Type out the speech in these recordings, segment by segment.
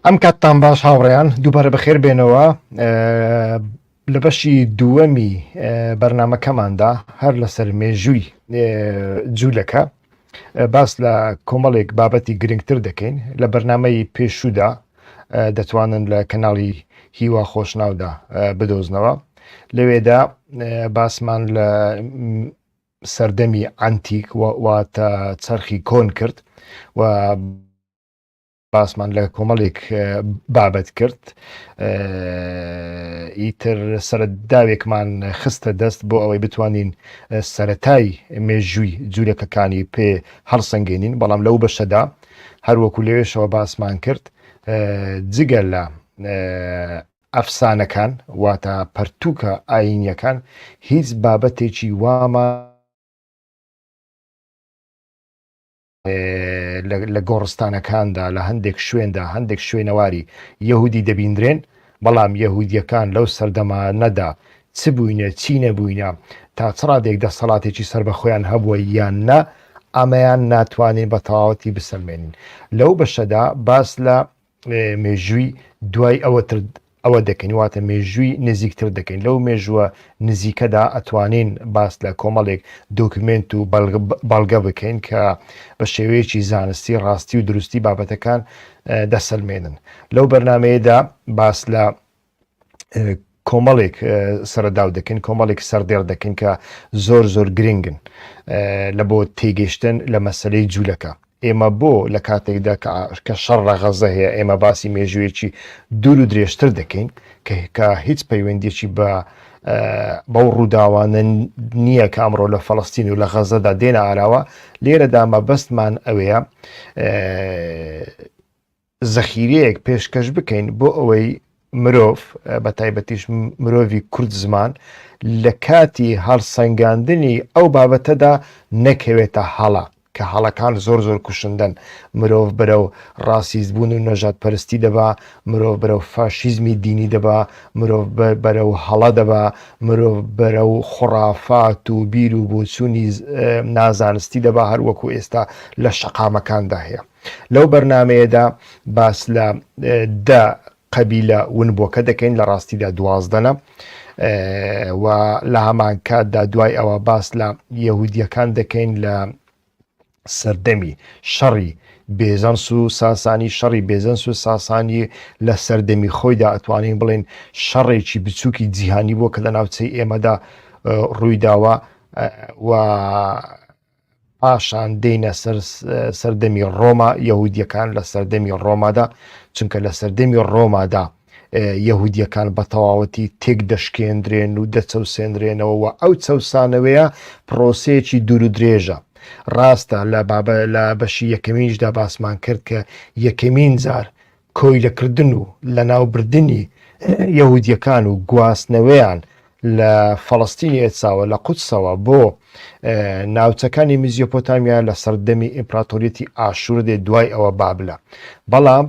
ئەم کاتتان باش هاوڕێیان دووبارە بەخێر بێنەوە لە بەشی دووەمی بەرنمەکەماندا هەر لەسەر مێژووی جوولەکە باس لە کۆمەڵێک بابەتی گرنگتر دەکەین لە بەرنمەی پێشودا دەتوانن لە کەناڵی هیوا خۆشناودا بدۆزنەوە لەوێدا باسمان لە سەردەمی عەنتیک واتە چەرخی کۆن کرد و باسمان لە کۆمەڵێک بابەت کرد ئیتر سەرەداوێکمان خستە دەست بۆ ئەوەی بتوانین سەتای مێژووی جوولەکەکانی پێ هەڵسەنگێنین بەڵام لەو بەشەدا هەروەکو لەوێشەوە باسمان کرد جگە لە ئەفسانەکان واتە پەرتووکە ئایینیەکان هیچ بابەتێکی وامان لە گۆڕستانەکاندا لە هەندێک شوێندا هەندێک شوێنەواری یەهودی دەبیندرێن بەڵام یەهودیەکان لەو سەردەما نەدا چ بووینە چی نەبووینە تا چڕادێک دەسەڵاتێکی سەر بە خۆیان هەبووە یان نا ئەمەیان ناتوانین بە تەواوەتی بسەلمێنین لەو بەشەدا باس لە مێژووی دوای ئەوە تر ئەوە دەکەین واتە مێژووی نزیکتر دەکەین لەو مێژووە نزیکەدا ئەتوانین باس لە کۆمەڵێک دۆکمنت و بەڵگە بکەین کە بە شێوەیەکی زانستی ڕاستی و دروستی بابەتەکان دەسەلمێنن لەو بەرنمەیەدا باس لە کۆمەڵێک سەرەداو دەکەین کۆمەڵێک سەردێڕ دەکەین کە زۆر زۆر گرنگن لە بۆ تێگەشتن لە مەسلەی جوولەکە ئێمە بۆ لە کاتێکدا کە شەڕ ڕەغەزە هەیە ئێمە باسی مێژوویەکی دوور و درێژتر دەکەین کە هیچ پەیوەندێکی بە بەو ڕووداوانە نییە کە ئەمڕۆ لە فەڵستین و لە غەزەدا دێنە ئاراوە لێرەدا مەبەستمان ئەوەیە زەخیرەیەک پێشکەش بکەین بۆ ئەوەی مرۆڤ بە تایبەتیش مرۆڤی کورد زمان لە کاتی هەڵسەنگاندنی ئەو بابەتەدا نەکەوێتە هەڵە کە هەڵەکان زۆر زۆر کوشندەن مرۆڤ بەرەو ڕاسیست بوون و نەژاد پەرستی دەبا مرۆڤ بەرەو فاشیزمی دینی دەبا مرۆڤ بەرەو هەڵە دەبا مرۆڤ بەرەو خوڕافات و بیر و بۆچوونی نازانستی دەبا هەروەکو ئێستا لە شەقامەکاندا هەیە لەو بەرنامەیەدا باس لە دە قەبیلە ونبووەکە دەکەین لە ڕاستیدا دوازدەنە و لە هەمانکاتدا دوای ئەوە باس لە یەهودیەکان دەکەین لە سەردەمی شەڕی بێزەنس و ساسانی شەڕی بێزەنس و ساسانی لە سەردەمی خۆیدا ئەتوانین بڵێن شەڕێکی بچووکی جیهانی بووە کە لە ناوچەی ئێمەدا ڕوویداوە و پاشان دێینە سەر سەردەمی ڕۆما یەهودیەکان لە سەردەمی ڕۆمادا چونکە لە سەردەمی ڕۆمادا یەهودیەکان بە تەواوەتی تێک دەشکێندرێن و دەچەوسێنرێنەوە و ئەو چەسانەوەیە پرۆسەیەکی دوور و درێژە ڕاستە لە بابە لە بەشی یەکەمینیشدا باسمان کرد کە یەکەمین جار کۆیلەکردن و لەناوبردنی یەهودییەکان و گواستنەوەیان لە فەڵەستینی ئێتساوە لە قودسەوە بۆ ناوچەکانی میزیۆپۆتامیا لە سەردەمی ئیمپراتۆریەتی ئاشور دێ دوای ئەوە بابلە بەڵام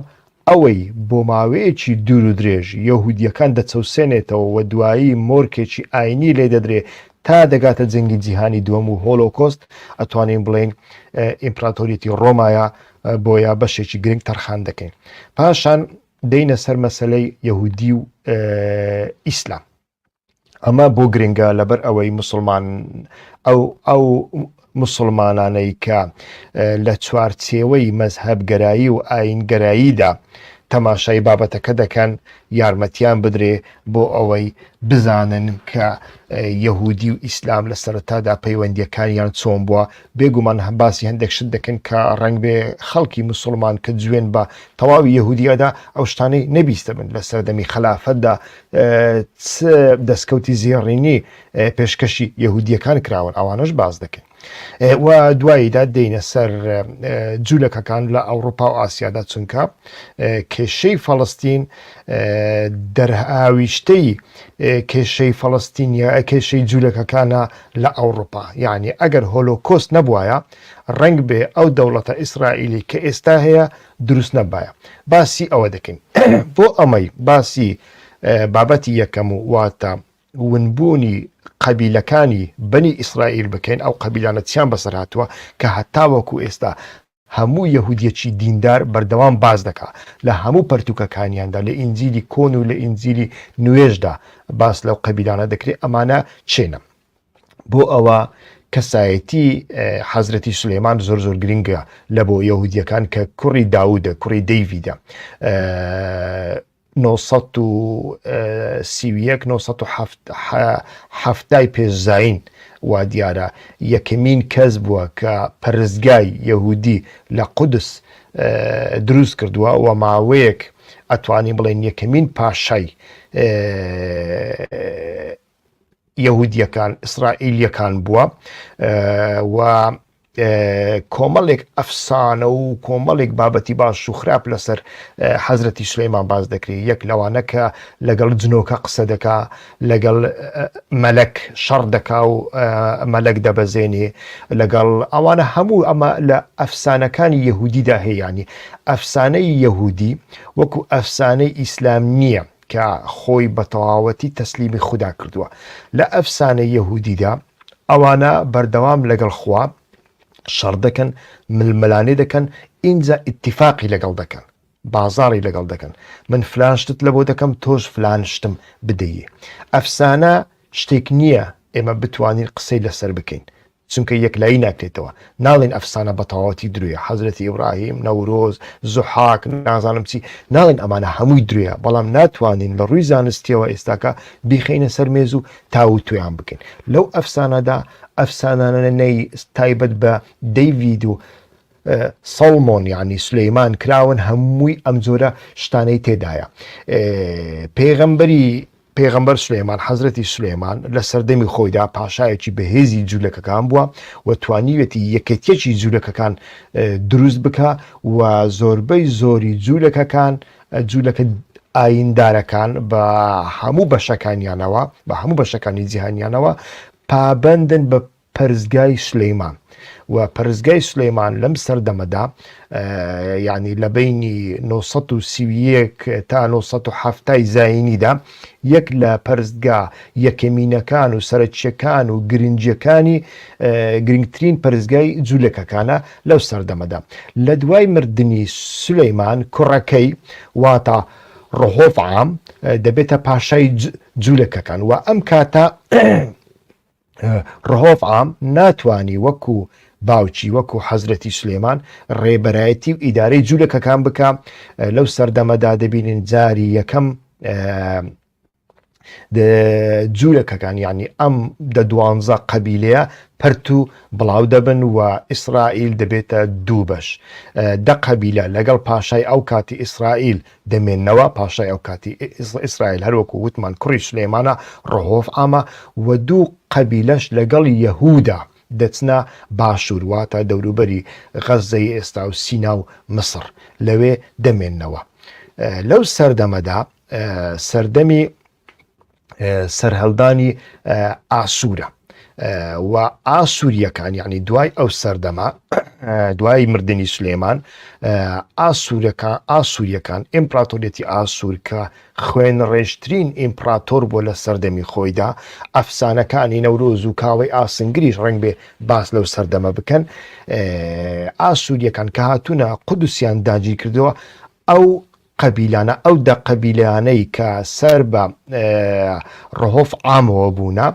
ئەوەی بۆ ماوەیەکی دوور و درێژ یەهودیەکان دەچەوسێنێتەوە و دوایی مۆرکێکی ئاینی لێ دەدرێ تا دەگاتە جەنگی جیهانی دووەم و هۆلۆکۆست ئەتوانین بڵێن ئیمپراتۆریەتی ڕۆمایە بۆیە بەشێکی گرنگ تەرخان دەکەین پاشان دەینە سەر مەسلەی یهودی و ئیسلام ئەمە بۆ گرنگە لەبەر ئەوەی مسلمان ئەو ئەو مسلمانانەی کە لە چوارچێوەی مەزهب گەرایی و ئاین گەراییدا تەماشای بابەتەکە دەکەن یارمەتیان بدرێ بۆ ئەوەی بزانن کە یەهودی و ئیسلام لە سەرتادا پەیوەندیەکانیان چۆن بووە بێ گومان باسی هەندێک شت دەکەن کە ڕەنگبێ خەڵکی مسوڵمان کە جوێن بە تەواوی یەهودی ئەدا ئەو شتانەی نەبیستبن لە سەردەمی خەلافەتدا چ دەستکەوتی زێڕینی پێشکەشی یەهودیەکان کراون ئەوانەش باز دەکەن و دواییدا دێنە سەر جوولەکەکان لە ئەوروپا و ئاسیادا چونکە کێشەی فەڵستین دەرهاویشتەی کێشەی فەڵستینیا کێشەی جوولەکەکانە لە ئەوڕوپا یانی ئەگەر هۆلۆکۆست نەبوایە ڕەنگ بێ ئەو دەوڵەتە ئیسرائیلی کە ئێستا هەیە دروست نەبایە باسی ئەوە دەکەین بۆ ئەمەی باسی بابەتی یەکەم و واتە ونبوونی قەبیلەکانی بەنی ئیسرائیل بکەین ئەو قەبیلانە چیان بەسەر هاتووە کە هەتاوەکو ئێستا هەموو یەهودیەکی دیندار بەردەوام باس دەکا لە هەموو پەرتووکەکانیاندا لە ئینجیلی کۆن و لە ئینجیلی نوێشدا باس لەو قەبیلانە دەکرێت ئەمانە چێنە بۆ ئەوە کەسایەتی حەزرەتی سلێمان زۆر زۆر گرنگە لە بۆ یەهودیەکان کە کوڕی داودە کوڕی دەیویدە نۆ سەد و سی و یەک نۆ سەد و حەفت حە حەفتای پێش زایین وا دیارە یەکەمین کەس بووە کە پەرستگای یەهوودی لە قودس دروست کردووە و ماوەیەک ئەتوانین بڵێین یەکەمین پاشای یەهودیەکان ئیسرائیلیەکان بووە و کۆمەڵێک ئەفسانە و کۆمەڵێک بابەتی باش و خراپ لەسەر حەزرەتی سلەیمان باز دەکری یەک لەوانە کە لەگەڵ جنۆکە قسە دەکا لەگەڵ مەلەک شەڕ دەکا و مەلەک دەبەزێنێ لەگەڵ ئەوانە هەموو ئەمە لە ئەفسانەکانی یەهودیدا هەیەیانی ئەفسانەی یەهودی وەکو ئەفسانەی ئیسلام نییە کە خۆی بەتەواوەتی تەسلیمی خودا کردووە لە ئەفسانەی یەهودیدا ئەوانە بەردەوام لەگەڵ خوا شەڕدەکەن ململانێ دەکەن ئینجا ئیتیفاقی لەگەڵ دەکەن بازاری لەگەڵ دەکەن من فلان شتت لە بۆ دەکەم تۆش فلان شتم بدەیی ئەفسانە شتێک نییە ئێمە بتوانین قسەی لەسەر بکەین چونکە یەکلایی ناکرێتەوە. ناڵێین ئەفسانە بەتەواوەتی درۆیە، حەزرەتی ئیبراهیم، نەورۆز، زوحاک، نازانم چی، ناڵێین ئەمانە هەمووی درۆیە، بەڵام ناتوانین لە ڕووی زانستییەوە ئێستاکە بیخەینە سەر مێز و تاووتوێیان بکەین. لەو ئەفسانەدا ئەفسانانەی تایبەت بە دەیڤید و سەڵمۆن یانی سولەیمان کراون هەمووی ئەم جۆرە شتانەی تێدایە. پێغەمبەری پێغەمبەر سولەیمان، حەزرەتی سولەیمان، لە سەردەمی خۆیدا پاشایەکی بەهێزی جولەکەکان بووە و توانیویەتی یەکێتیەکی جولەکەکان دروست بکا و زۆربەی زۆری جولەکەکان جولەکە ئایندارەکان بە هەموو بەشەکانیانەوە بە هەموو بەشەکانی جیهانیانەوە پابەندن بە پەرستگای سلیمان و پەرستگای سلیمان لەم سەردەمەدا ینی لە بینی 1930 تا 1970 زینیدا یەک لە پەرستگا یەکەمینەکان و سەرچیەکان و گرنجەکانی گرنگترین پەرستگای جوولەکەکانە لەو سەردەمەدا لە دوای مردنی سلیمان کوڕەکەی واتا ڕهۆف عام دەبێتە پاشای جوولەکەکان و ئەم کاتە رهۆڤ عام ناتوانی وەکو باوکی وەکو حەزرەتی سلێمان ڕێبەرایەتی و ئیدارەی جوولەکەکان بکە لەو سەردەمەدا دەبینین جاری یەکەم جوولەکەکان ینی ئەم دە دوانزە قەبیلەیە پەرت و بڵاو دەبن و ئیسرائیل دەبێتە دوو بەش دە قەبیلە لەگەڵ پاشای ئەو کاتی ئیسرائیل دەمێنەوە پاشای ئەو کاتی ئیسرائیل هەروەکو وتمان کوڕی سلێمانە ڕهۆف ئامە و دوو قەبیلەش لەگەڵ یەهودا دەچنە باشوور واتە دەوروبەری غەززەی ئێستا و سینا و مسڕ لەوێ دەمێنەوە لەو سەردەمەدا سەردەمی سەرهەلدانی ئاسوورە و ئاسووریەکان یعنی دوای ئەو سەردەما دوای مردنی سلێمان ئاسوورەکە ئاسووریەکان ئیمپراتۆریەتی ئاسوورکە خوێن ڕێژترین ئیمپراتۆر بۆ لە سەردەمی خۆیدا ئەفسانەکانی نەورۆز و کاوەی ئاسنگریش ڕنگ بێ باس لەو سەردەمە بکەن ئاسووریەکان کە هاتوونە قودوسیان داگیرکردەوە ئەو قەبیلانە ئەو دە قەبیلەیانەی کە سەر بە ڕهۆف عامەوە بوونە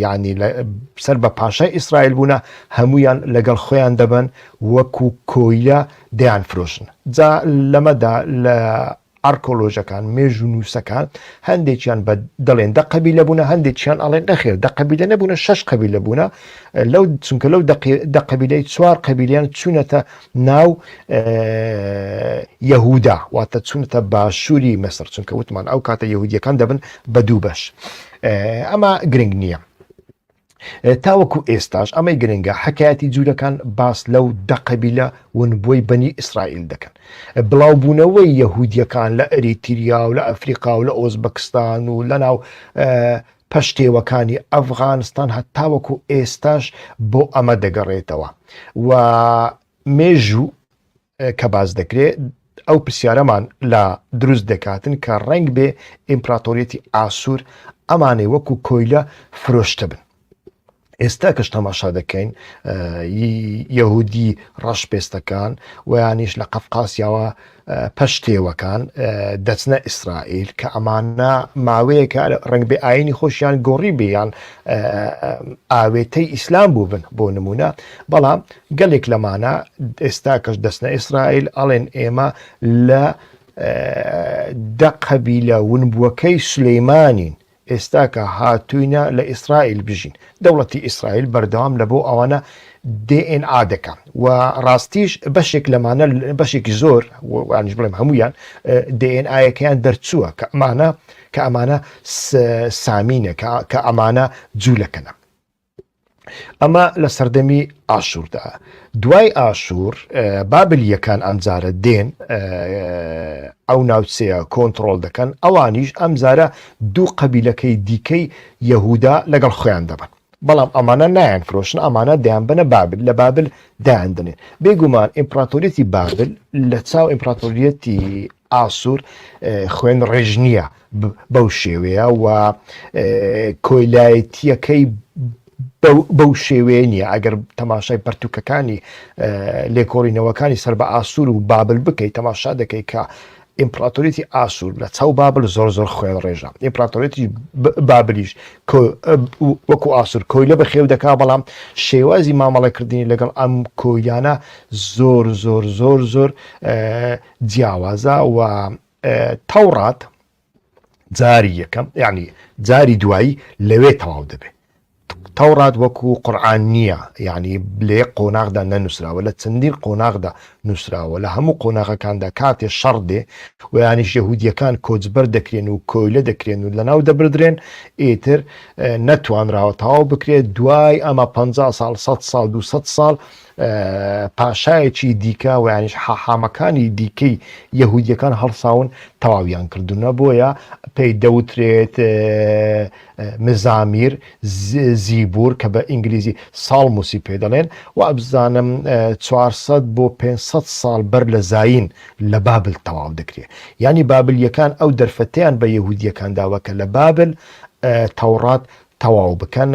یعنی سەر بە پاشای ئیسرائیل بوونە هەمویان لەگەڵ خۆیان دەبن وەکو کۆیلە دەیان فرۆشن جا لەمەدا لە ئارکۆلۆژەکان مێژ و نووسەکان هەندێکیان بە دەڵێن دە قەبی لە بوونە هەندێکیان ئەڵێن نەخێر دە قەبی لە نەبوونە شش قەبی لە بوونە لەو چونکە لەو دە قەبیلەی چوار قەبیلیان چوونەتە ناو یەهودا واتە چونتە باشووری مەسر چونکە وتمان ئەو کاتە یهودیەکان دەبن بە دوو بەش ئەمە گرنگ نییە تاوەکو ئێستاش ئەمەی گرنگە حکایەتی جوورەکان باس لەو دەقەبیلە ونبووی بەنی ئیسرائیل دەکەن بڵاوبوونەوەی یەهودیەکان لە ئەریتیریا و لە ئەفریقا و لە ئۆزبەکستان و لە ناو پشتێوەکانی ئەفغانستان هەتاوەکو ئێستاش بۆ ئەمە دەگەڕێتەوە و مێژوو کە باز دەکرێت ئەو پرسیارەمان لە دروست دەکاتن کە ڕنگ بێ ئیمپراتۆریەتی ئاسوور ئەمانەی وەکو کۆیلە فرۆشتە بن ئێستا کەش تەماشا دەکەین یەهودی ڕەش پێستەکان ویانیش لە قەفقاسیاوە پەشتێوەکان دەچنە ئیسرائیل کە ئەمانە ماوەیەکە ڕنگ بێ ئاینی خۆشیان گۆڕی بیان ئاوێتەی ئیسلام بوو بن بۆ نمونە بەڵام گەلێک لەمانە ئێستا کەش دەستنە ئیسرائیل ئەڵێن ئێمە لە دەقەبی لە ونبووەکەی سلەیمانین ئێستا کە هاتووینە لە ئیسرائیل بژین دەوڵەتی ئیسرائیل بەردەوام لە بۆ ئەوانە DNA دەکە و ڕاستیش بەشێک لەمانە بەشێکی زۆر وانش بڵێم هەمویان DNA-ەکەیان دەرچووە کە ئەمانە کە ئەمانە سامینە کە ئەمانە جوولەکەنە ئەمە لە سەردەمی ئاشووردا دوای ئاشوور بابل یەکان ئەمجارە دێن ئەو ناوچەیە کۆنتترۆل دەکەن ئەوانیش ئەمجارە دوو قەبیلەکەی دیکەی یەهودا لەگەڵ خۆیان دەبن بەڵام ئەمانە نایەن فرۆشن ئەمانە دەیان بنە بابل لە بابل دایان دەنێن بێگومان ئیمپراتۆریەتی بابل لە چاو ئیمپراتۆریەتی ئاسوور خوێن ڕێژ نییە بەو شێوەیە و کۆیلایەتییەکەی بەو شێوەیە نییە ئەگەر تەماشای پەرتوکەکانی لێکۆڵینەوەکانی سەر بە ئاسوور و بابل بکەیت تەماشا دەکەیت کە ئیمپراتۆریتی ئاسوور لە چاو بابل زۆر زۆر خوێن ڕێژە ئیمپراتۆریتی بابلیش وەکو ئاسوور کۆیلە بە خێو دەکا بەڵام شێوازی مامەڵەکردنی لەگەڵ ئەم کۆیلانە زۆر زۆر زۆر زۆر جیاوازە و تەوڕات جاری یەکەم یعنی جاری دوایی لەوێ تەواو دەبێت تەوڕات وەکو قورآان نییە یعنی لێ قۆناغدا نەنووسراوە لە چەندین قۆناغدا نووسراوە لە هەموو قۆناغەکاندا کاتێ شەڕ دێ و ینیش یهودیەکان کۆچبەر دەکرێن و کۆیلە دەکرێن و لەناو دەبدرێن ئیتر نەتوانراوە تەواو بکرێت دوای ئەمە 50 سال 100 سال 200 سال پاشایەکی دیکە و یانیش حاحامەکانی دیکەی یەهودیەکان هەڵساون تەواویان کردونە بۆیە پێی دەوترێت مزامیر زیبور کە بە ئینگلیزی ساڵموسی پێ دەڵێن و ئەبزانم 400 بۆ 500 ساڵ بەر لە زین لە بابل تەواو دەکرێت ینی بابلیەکان ئەو دەرفەتیان بە یەهودیەکان داوە کە لە بابل تەوڕات تەواو بکەن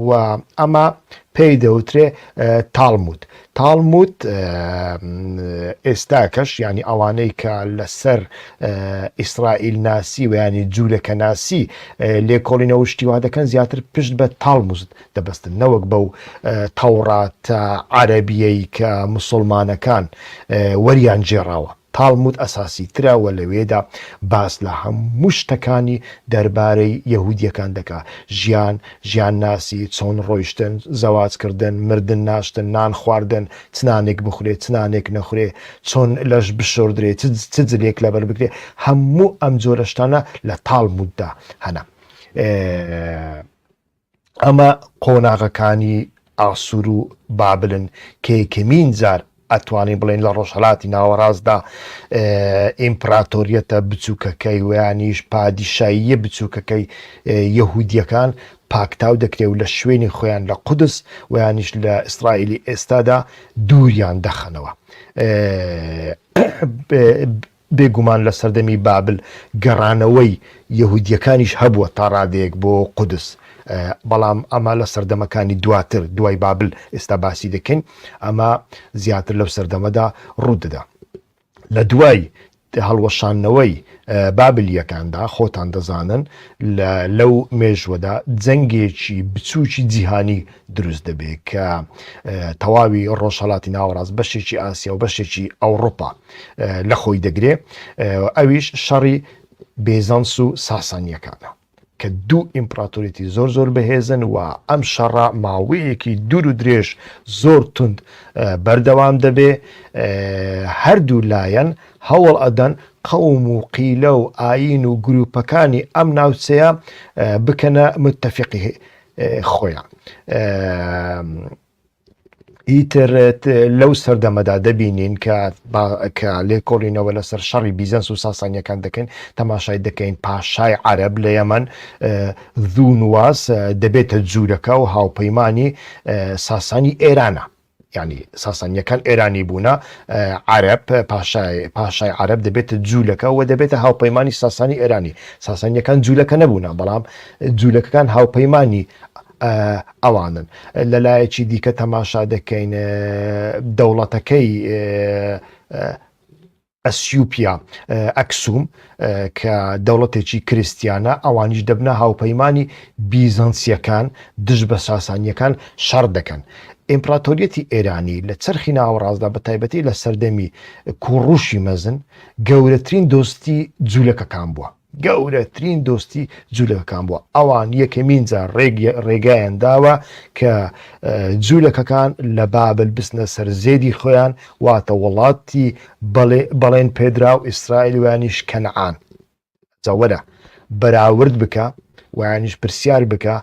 و ئەمە پێی دەوترێ تاڵموت تاڵموت ئێستا کەش ینی ئەوانەی کە لەسەر ئیسرائیل ناسی و ینی جوولەکە ناسی لێکۆڵینە وشتیوا دەکەن زیاتر پشت بە تاڵموزت دەبستن نەوەک بەو تەوڕاتە عربیەی کە مسلمانەکان وەریان جێراوە تاڵمود ئەساسی ترە و لەوێدا باس لە هەموو شتەکانی دەربارەی یەهودییەکان دەکا، ژیان، ژیان ناسی، چۆن ڕۆیشتن، زەواج کردن، مردن، ناشتن، نان خواردن، چ نانێک بخورێ، چ نانێک نەخورێ، چۆن لەش بشۆردرێ، چ جلێک لەبەر بگرێ، هەموو ئەم جۆرە شتانە لە تاڵموددا هەنە. ئەمە قۆناغەکانی ئاسوور و بابلن کە یەکەمین جار ئەتوانین بڵێین لە ڕۆژهەلاتی ناوەڕاستدا ئیمپراتۆریەتە بچووکەکەی ویانیش پادیشاییە بچووکەکەی یەهودیەکان پاکتاو دەکرێ و لە شوێنی خۆیان لە قودس ویانیش لە ئیسرائیلی ئێستادا دووریان دەخەنەوە بێ گومان لە سەردەمی بابل گەڕانەوەی یەهودییەکانیش هەبووە تا ڕادەیەک بۆ قودس، بەڵام ئەمە لە سەردەمەکانی دواتر، دوای بابل ئێستا باسی دەکەین، ئەمە زیاتر لەو سەردەمەدا ڕوو دەدا. لە دوای هەڵوەشاندنەوەی بابلییەکاندا، خۆتان دەزانن لەو مێژووەدا جەنگێکی بچووکی جیهانی دروست دەبێت کە تەواوی ڕۆژهەڵاتی ناوەڕاست، بەشێکی ئاسیا و بەشێکی ئەوڕوپا، لە خۆی دەگرێ ئەویش شەڕی بێزەنس و ساسانیەکانە کە دوو ئیمپراتۆریتی زۆر زۆر بەهێزن و ئەم شەڕە ماوەیەکی دوور و درێژ زۆر تند بەردەوام دەبێ هەردوو لایەن هەوڵ ئەدەن قەوم و قیلە و ئاین و گروپەکانی ئەم ناوچەیە بکەنە متتەفقی خۆیان ئیتر لەو سەردەمەدا دەبینین کە کە لێکۆڵینەوە لەسەر شەڕی بیزەنس و ساسانیەکان دەکەین تەماشای دەکەین پاشای عەرب لە یەمەن زوونواز دەبێتە جوورەکە و هاوپەیمانانی ساسانی ئێرانە ینی ساسانیەکان ئێرانی بوونە عرب پاشای عرب دەبێتە جوولەکە و دەبێتە هاوپەیمانانی ساسانی ئێرانی ساسانیەکان جوولەکە نەبوونا بەڵام جوولەکەکان هاوپەیمانانی ئەوانن. لە لایەکی دیکە تەماشا دەکەین دەوڵەتەکەی ئەسیوپیا ئەکسوم کە دەوڵەتێکی کریسیانە ئەوانیش دەبنە هاوپەیمانانی بیزەنسیەکان دژ بە ساسانیەکان شەڕ دەکەن. ئیمپراتۆریەتی ئێرانی لە چەرخی ناوەڕاستدا بە تایبەتی لە سەردەمی کوڕوشی مەزن گەورەترین دۆستی جولەکەکان بووە. گەورەترین دۆستی جوولەکەکان بووە ئەوان یەکەمین جار ڕێگایان داوە کە جوولەکەکان لە بابل بستنە سەر زێدی خۆیان واتە وڵاتی بەڵێن پێدرا و ئیسرائیل وانیش کەنعان جاوەرە بەراورد بکە وانیش پرسیار بکە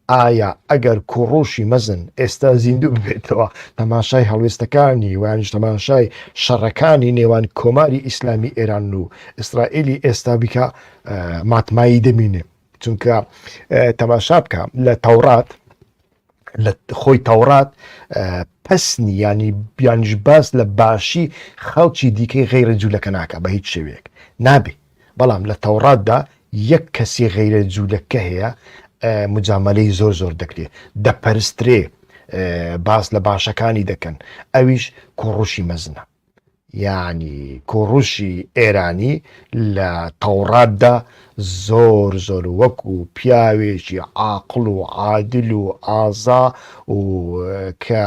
ئایا ئەگەر کووڕووشی مەزن ئێستا زیندوو ببێتەوە تەماشای هەڵوێستەکانی وانیش تەماشای شەڕەکانی نێوان کۆماری ئیسلامی ئێران و ئیسرائیلی ئێستا بیکا ماتمایی دەمینێ چونکە تەماشا بکە لە تەوڕات لە خۆی تەوڕات پسنی ینی بیانیش باس لە باشی خەڵکی دیکەی غیرە جوولەکە ناکە بە هیچ شێوەیەک نابێ بەڵام لە تەوڕاتدا یەک کەسی غەیرە جوولەکە هەیە مجامەلەی زۆر زۆر دەکرێ دەپەرسترێ باس لە باشەکانی دەکەن ئەویش کۆڕوشی مەزنە یعنی کۆڕوشی ئێرانی لە تەوڕاتدا زۆر زۆر وەک و پیاوێکی عاقل و عادل و ئازا و کە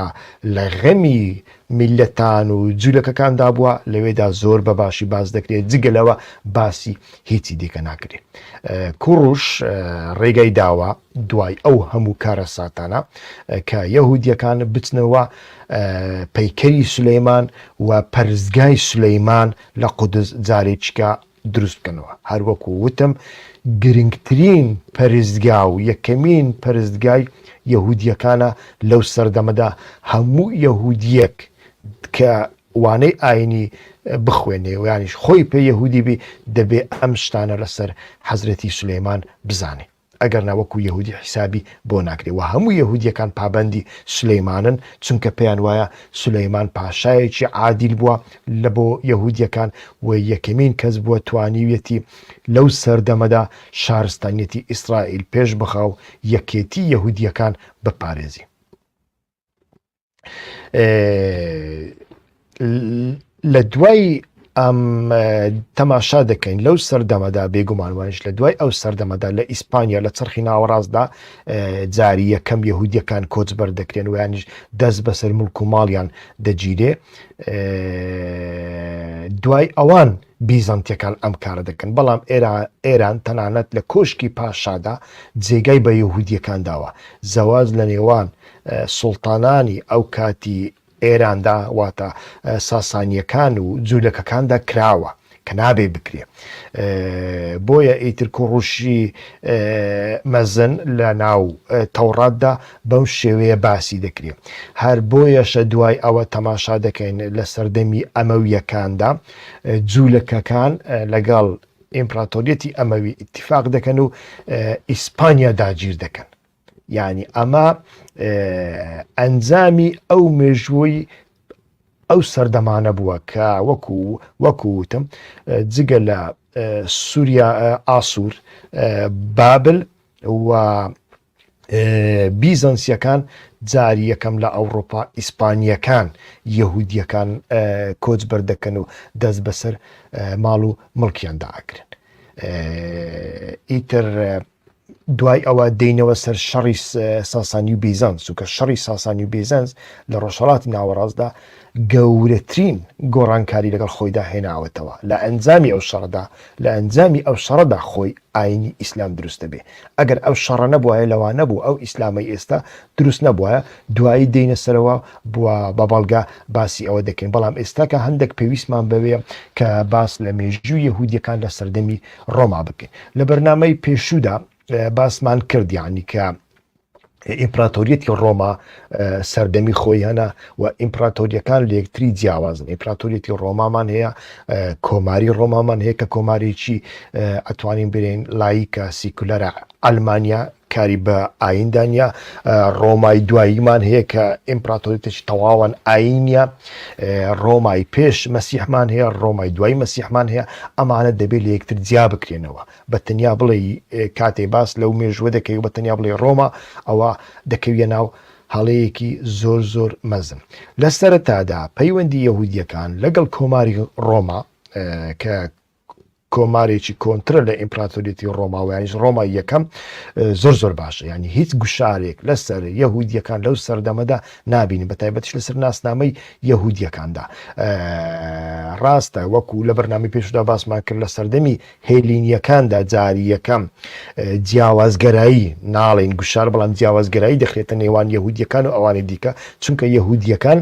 لە غەمی میللەتان و جولەکەکاندا بووە، لەوێدا زۆر بە باشی باس دەکرێت، جگە لەوە باسی هیچی دیکە ناکرێت. کوڕوش ڕێگای داوە دوای ئەو هەموو کارەساتانە کە یەهودیەکان بچنەوە پەیکەری سولەیمان و پەرستگای سولەیمان لە قودس جارێکیکە دروست بکەنەوە، هەروەکو وتم گرنگترین پەرستگا و یەکەمین پەرستگای یەهودییەکانە لەو سەردەمەدا، هەموو یەهودییەک کە وانەی ئاینی بخوێنێ و یانیش خۆی پێ یەهودی بی دەبێ ئەم شتانە لەسەر حەزرەتی سولەیمان بزانێ. ئەگەر نا وەکو یەهودی حیسابی بۆ ناکرێ وە هەموو یەهودیەکان پابەندی سولەیمانن چونکە پێیان وایە سولەیمان پاشایەکی عادیل بووە لە بۆ یەهودیەکان و یەکەمین کەس بووە توانیویەتی لەو سەردەمەدا شارستانیەتی ئیسرائیل پێش بخا و یەکێتی یەهودیەکان بپارێزی. لە دوای ئەم تەماشا دەکەین لەو سەردەمەدا بێگومان وایش لە دوای ئەو سەردەمەدا لە ئیسپانیا لە چرخی ناوەڕاستدا جاری یەکەم یهودیەکان کۆچبەر دەکرێن ویانش دەست بەسەر ملک و ماڵیان دەگیرێ دوای ئەوان بیزەنتیەکان ئەم کارە دەکەن بەڵام ئێران تەنانەت لە کۆشکی پاشادا جێگای بە یهودیەکان داوە زەواج لە نێوان سوڵتانانی ئەو کاتی ئێراندا واتە ساسانیەکان و جوولەکەکاندا کراوە کە نابێ بکرێ بۆیە ئیتر کوڕوشی مەزن لە ناو تەوڕاتدا بەم شێوەیە باسی دەکرێت هەر بۆیەشە دوای ئەوە تەماشا دەکەین لە سەردەمی ئەمەویەکاندا جولەکەکان لەگەڵ ئیمپراتۆریەتی ئەمەوی ئتیفاق دەکەن و ئیسپانیا داگیر دەکەن یعنی ئەمە ئەنجامی ئەو مێژووی ئەو سەردەمانە بووە کە وەکو وەکو وتم جگە لە سووریا ئاسوور بابل و بیزەنسیەکان جاری یەکەم لە ئەوڕۆپا ئیسپانیەکان یەهودیەکان کۆچ بەردەکەن و دەست بەسەر ماڵ و مڵکیاندا ئاگرن ئیتر دوای ئەوە دەینەوە سەر شەڕی ساسانی و بیزانس و کە شەڕی ساسانی و بیزانس لە ڕۆژهڵاتی ناوەڕاستدا گەورەترین گۆڕانکاری لەگەڵ خۆیدا هێناوەتەوە لە ئەنجامی ئەو شەڕدا لە ئەنجامی ئەو شەڕدا خۆی ئاینی ئیسلام دروست دەبێ ئەگەر ئەم شەڕە نەبوایە لەوانەبوو ئەو ئیسلامەی ئێستا دروست نەبوایە دوایی دێینە سەرەوە بوە بە بەڵگە باسی ئەوە دەکەین بەڵام ئێستاکە هەندێک پێویستمان بەوەیە کە باس لە مێژوو یەهودیەکان لە سەردەمی ڕۆما بکەین لە بەرنامەی پێشودا باسمان کرد یعنی کە ئیمپراتۆریەتی ڕۆما سەردەمی خۆی هەنا و ئیمپراتۆریەکان لەکتری جیاوازن ئیمپراتۆریەتی ڕۆمامان هەیە کۆماری ڕۆمامان هەیە کە کۆمارێکی ئەتوانین برێن لایکە سیکولەرە ئەلمانیا کاری بە ئایندانیا ڕۆمای دواییمان هەیە کە ئیمپراتۆریتش تەواوان ئاینە ڕۆمای پێش مەسیحمان هەیە ڕۆمای دوای مەسیحمان هەیە ئەمانە دەبێت لە یەکتر جیا بکرێنەوە بە تەنیا بڵێ کاتێ باس لەو مێژوە دەکەی و بە تەنیا بڵێ ڕۆما ئەوە دەکەویە ناو هەڵەیەکی زۆر زۆر مەزن لە سەرتادا پەیوەندی یەهودیەکان لەگەڵ کۆماری ڕۆما کە کۆمارێکی کۆنترە لە ئیمپراتۆریەتی ڕۆماویانیش ڕۆما یەکەم زۆر زۆر باشە ینی هیچ گوشارێک لەسەر یەهودیەکان لەو سەردەمەدا نبین بە تایبەتش لەسەر ناسنامەی یەهودیەکاندا ڕاستە وەکو لە بەرنامی پێشدا باسمان کرد لە سەردەمی هێلینییەکاندا جاری یەکەم جیاوازگەرایی، ناڵێین گوشار، بەڵام جیاوازگەرایی دەخرێتە نێوان یەهودییەکان و ئەوانی دیکە، چونکە یەهودییەکان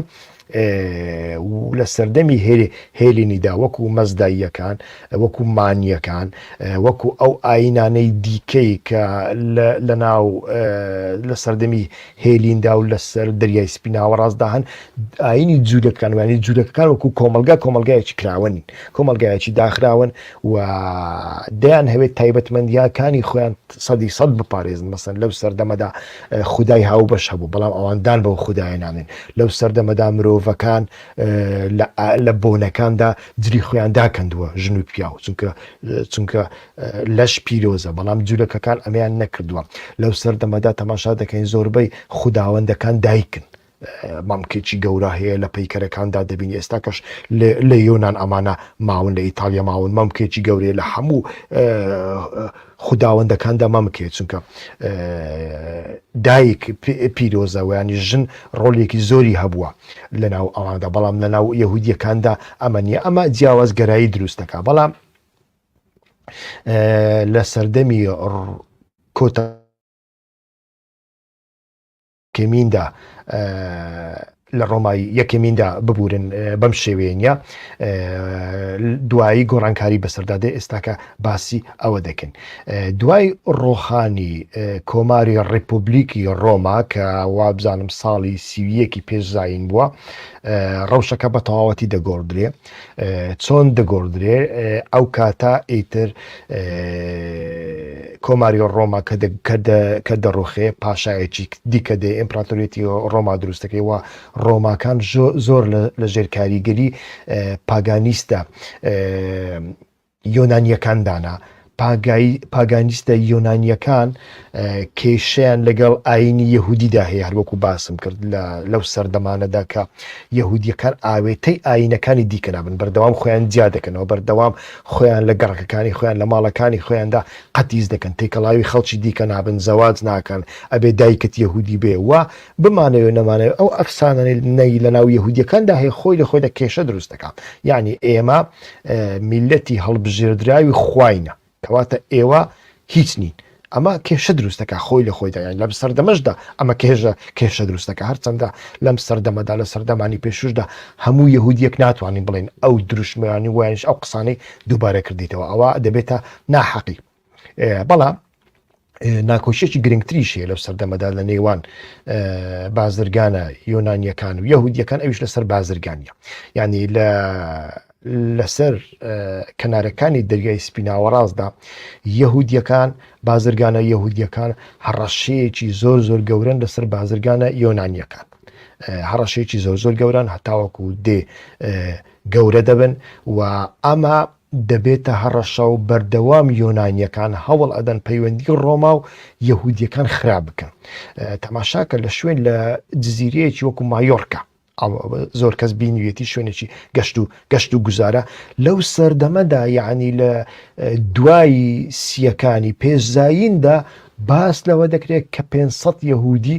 لە سەردەمی هێلینیدا وەکو مەزداییەکان، وەکو مانییەکان، وەکو ئەو ئایینانەی دیکەی کە لە سەردەمی هێلیندا و لەسەر دەریای سپی ناوەڕاستدا هەن ئاینی جوولەکان وانی جوولەکەکان وەکو کۆمەلگا کۆمەلگایەکی کراوەن کۆمەلگایەکی داخراون و دەیان هەوێت تایبەتمەندیاکانی خۆیان سەدی سەد بپارێزن مەسن لەو سەردەمەدا خدای هاو بەش هەبوو بەڵام ئەواندان بەو خدایە نانێن لەو سەردەمەدا مرۆڤەکان لە بۆنەکاندا جلی خۆیان داکەندووە ژن و پیاو چونکە چونکە لەش پیرۆزە بەڵام جولەکەکان ئەمەیان نەکردووە لەو سەردەمەدا تەماشا دەکەین زۆربەی خوداوەندەکان دایکن مامکێکی گەورە هەیە لە پەیکەرەکاندا دەبین ئێستاکەش لە یۆناان ئەمانە ماون لە ئیتالیا ماون مامکێکی گەورەیە لە هەموو خوداوەندەکاندا مامکێ چونکە دایک پیرۆزەوەیانی ژن ڕۆلێکی زۆری هەبووە لە ناو ئەواندا بەڵام لە ناو یهودیەکاندا ئەمە نیە ئەمە جیاوازگەرایی دروستەکە بەڵام لە سەردەمی کۆتا کەمیندا لە ڕۆمای یەکەمیندا ببورن بەم شێوەیە نیە دوایی گۆڕانکاری بەسەردادێ ئێستاکە باسی ئەوە دەکەن دوای ڕۆخانی کۆماری ڕیپۆبلیکی ڕۆما کە وابزانم ساڵی سیویەکی پێشزین بووە ڕەوشەکە بە تەواوەتی دەگۆڕدرێ چۆن دەگۆڕدرێ ئەو کاتە ئیتر کۆماری ڕۆما کە دەڕوخێ پاشایەکی دیکە دێ ئیمپراتۆریەتی ڕۆما دروستەکەی وە ڕۆماکان زۆر لە ژێر کاریگەری پاگانیستە یۆنانییەکان دانا. پاگانیستە یۆنانییەکان کێشەیان لەگەڵ ئاینی یەهودیدا هەیە هەروەکو باسم کرد لەو سەردەمانەدا کە یەهودیەکان ئاوێتەی ئاینەکانی دیکە نابن بەردەوام خۆیان جیا دەکەنەوە بەردەوام خۆیان لە گەڕەکەکانی خۆیان لە ماڵەکانی خۆیاندا قەتیز دەکەن تێکەڵاوی خەڵکی دیکە نابن زەواج ناکەن ئەبێ دایکت یەهودی بێ و بمانەوێ نەمانەوێ ئەو ئەفسانەنەی لەناو یەهودیەکاندا هەیە خۆی لە خۆیدا کێشە دروست دەکا یعنی ئێمە میلەتی هەڵبژێردراوی خواینە کەواتە ئێوە هیچ نین ئەمە کێشە دروستەکە خۆی لە خۆیدا یان لەم سەردەمەشدا ئەمە کێژە کێشە دروستەکە هەرچەندە لەم سەردەمەدا لە سەردەمانی پێشوشدا هەموو یهودیەک ناتوانین بڵێن ئەو دروشمەیانی وایش ئەو قسانەی دووبارە کردیتەوە ئەوە دەبێتە ناحەقی بەڵام ناکۆشیەکی گرنگتریش هەیە لەو سەردەمەدا لە نێوان بازرگانە یۆنانیەکان و یهودیەکان ئەوش لەسەر بازرگانە ینی لە لەسەر کەنارەکانی دەریای سپیناوەڕاستدا یهودیەکان بازرگانە یهودیەکان هەڕەشەیەکی زۆر زۆر گەورن لەسەر بازرگانە یۆنانیەکان هەڕەشەیەکی زۆر زۆر گەوران هەتاوەکو دێ گەورە دەبن و ئەمە دەبێتە هەڕەشە و بەردەوام یۆنانیەکان هەوڵ ئەدەن پەیوەندی ڕۆما و یەهودیەکان خراپ بکەن تەماشاکە لە شوێن لە جززیرەیەکی وەکو مایۆرکە زۆر کەس بینویەتی شوێنێکی گەشت و گەشت و گوزارە لەو سەردەمەدا یعنی لە دوایی سیەکانی پێشزاییندا باس لەوە دەکرێت کە 500 یهودی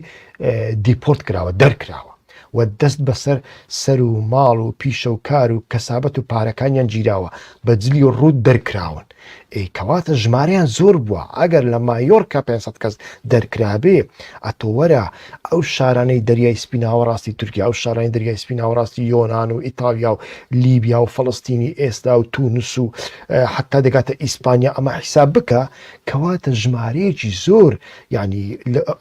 دیپۆرت کراوە دەرکراوە و دەست بەسەر سەر و ماڵ و پیشە و کار و کەسابەت و پارەکانیان گیراوە بە جلی ڕووت دەرکراون ئەی کەواتە ژمارەیان زۆر بووە ئەگەر لە مایۆرکا پێنج سەد کەس دەرکرابێ ئەتۆ وەرە ئەو شارانەی دەریای سپی ناوەڕاستی تورکیا و شارانی دەریای سپی ناوەڕاستی یۆنان و ئیتاڵیا و لیبیا و فەڵەستینی ئێستا و تونس و حتا دەگاتە ئیسپانیا ئەمە حیساب بکە کەواتە ژمارەیەکی زۆر یعنی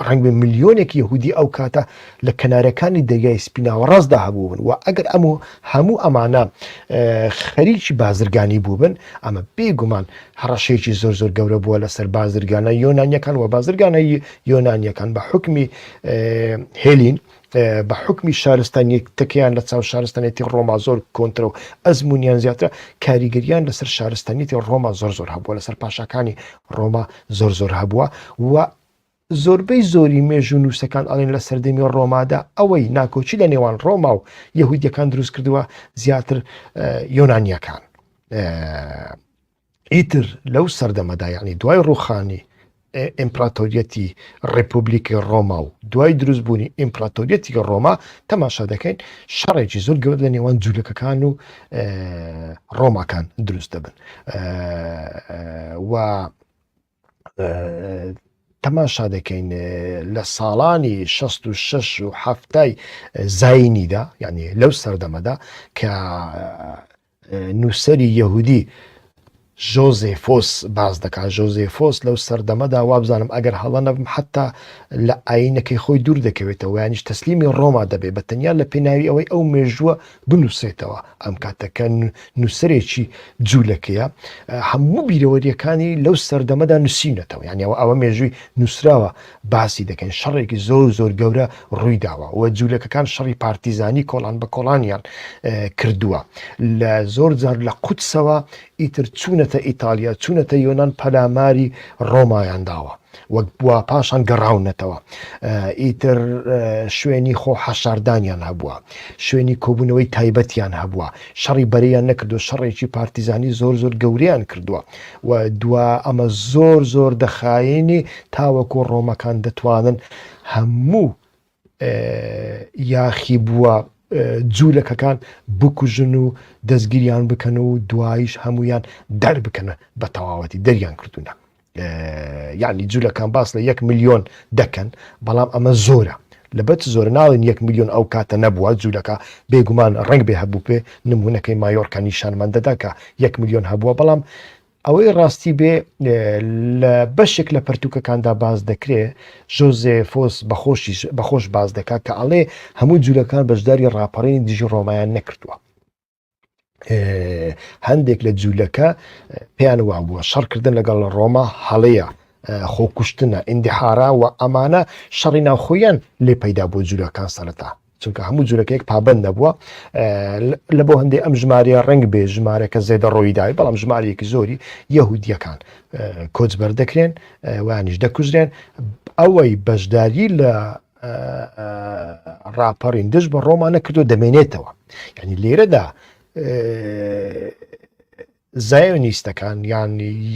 ڕەنگبێ ملیۆنێک یەهودی ئەو کاتە لە کەنارەکانی دەریای سپی ناوەڕاستدا هەبوون و ئەگەر ئەم و هەموو ئەمانە خەریکی بازرگانی بووبن ئەمە بێگومان هەڕەشەیەکی زۆر زۆر گەورە بووە لەسەر بازرگانە یۆنانیەکان و بازرگانەی یۆنانیەکان بە حکمی هێلین بە حکمی شارستانی تەکەیان لە چاو شارستانێتی ڕۆما زۆر کۆنترە و ئەزمونیان زیاترە کاریگەریان لەسەر شارستانیتی ڕۆما زۆر زۆر هەبووە لەسەر پاشەکانی ڕۆما زۆر زۆر هەبووە و زۆربەی زۆری مێژوونووسەکان ئەڵێن لە سەردەمی ڕۆمادا ئەوەی ناکۆکی لە نێوان ڕۆما و یەهودیەکان دروست کردووە زیاتر یۆنانیەکان ئیتر لەو سەردەمەدا یعنی دوای ڕوخانی ئیمپراتۆریەتی ڕپبلیکی ڕۆما و دوای دروستبوونی ئیمپراتۆریەتی ڕۆما تەماشا دەکەین شەڕێکی زۆر گەورە لە نێوان جوولەکەکان و ڕۆماکان دروست دەبن و تەماشا دەکەین لە ساڵانی 66 و هەفتای زینیدا یعنی لەو سەردەمەدا کە نووسری یەهودی ژۆزێفۆس باز دەکات ژۆزێفۆس لەو سەردەمەدا وابزانم ئەگەر هەڵە نەبم حتا لە ئاینەکەی خۆی دوور دەکەوێتەوە یانیش تەسلیمی ڕۆما دەبێت بە تەنیا لە پێناوی ئەوەی ئەو مێژووە بنووسێتەوە ئەم کاتەکە نووسەرێکی جوولەکەیە هەموو بیرەوەریەکانی لەو سەردەمەدا نووسینەتەوە یانەوە ئەوە مێژووی نووسراوە باسی دەکەن شەڕێکی زۆر زۆر گەورە ڕووی داوە و جوولەکەکان شەڕی پارتیزانی کۆڵان بە کۆڵانیان کردووە لە زۆر جار لە قوتسەوە ئیتر چوونەتە ئیتالیا، چوونەتە یۆنان پەلاماری ڕۆمایان داوە و بوا پاشان گەڕاونەتەوە. ئیتر شوێنی خۆ حەشاردانیان هەبووە، شوێنی کۆبوونەوەی تایبەتیان هەبووە، شەڕی بەرەیان نەکردووە، شەڕێکی پارتیزانی زۆر زۆر گەورەیان کردووە و دوا ئەمە زۆر زۆر دەخایەنێ تاوەکو ڕۆمەکان دەتوانن هەموو یاخی بووە جوولەکەکان بکوژن و دەستگیریان بکەن و دوایش هەمویان دەربکەنە بە تەواوەتی دەریان کردوونە یعنی جوولەکان باس لە یەک میلیۆن دەکەن بەڵام ئەمە زۆرە لەبەت زۆر ناڵین یەک میلیۆن ئەو کاتە نەبووە جوولەکە بێگومان ڕنگ بێ هەبوو پێ نمونونەکەی مایۆرکە نیشانمان دەدا کە یەک میلیۆن هەبووە بەڵام ئەوەی ڕاستی بێ لە بەشێک لە پەرتوکەکاندا باز دەکرێ ژۆزێ فۆس بەخۆشیش بەخۆش باز دەکات کە ئەڵێ هەموو جوولەکان بەشداری ڕاپەڕینی دژی ڕۆمایان نەکردووە هەندێک لە جوولەکە پێیان وا بووە شەڕکردن لەگەڵ ڕۆما هەڵەیە خۆکوشتنە ئیندیحارا و ئەمانە شەڕی ناوخۆیان لێ پەیدا بۆ جوولەکان سەرەتا چونکە هەموو جورەکە یەک پابند نەبووە لە بۆ هەندێک ئەم ژمارە ڕنگ بێ ژمارەکە زێدە ڕۆی داوی بەڵام ژمارەیەکی زۆری یەهودیەکان کۆچ بەردەکرێن وانیش دەکوژرێن ئەوەی بەشداری لە ڕاپەڕین دژ بە ڕۆمانە کردو دەمێنێتەوە ینی لێرەدا زایۆنیستەکان یان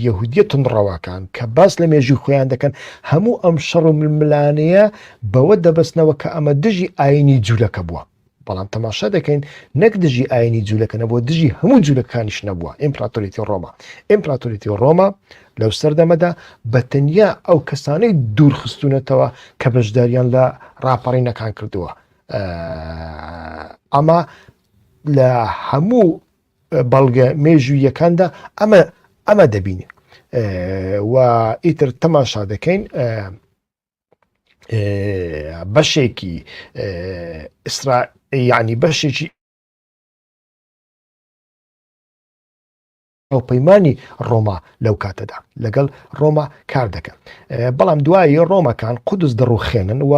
یەهودیە تونڕەواکان کە باس لە مێژوی خۆیان دەکەن هەموو ئەم شەڕ و ململانەیە بەوە دەبستنەوە کە ئەمە دژی ئاینی جوولەکە بووە بەڵام تەماشا دەکەین نەک دژی ئاینی جوولەکە نەبووە دژی هەموو جوولەکانیش نەبووە ئیمپراتوریتی ڕۆما ئیمپراتوریتی ڕۆما لەو سەردەمەدا بە تەنیا ئەو کەسانەی دوورخستونەتەوە کە بەشداریان لە ڕاپەڕینەکان کردووە ئەمە لە هەموو بەڵگە مێژوویەکاندا ئەمە ئەمە دەبینین و ئیتر تەماشا دەکەین بەشێکی ئیسرا یعنی بەشێکی ئەو پەیمانانی ڕۆما لەو کاتەدا لەگەڵ ڕۆما کار دەکەن بەڵام دوایی ڕۆمەکان قودس دەڕوخێنن و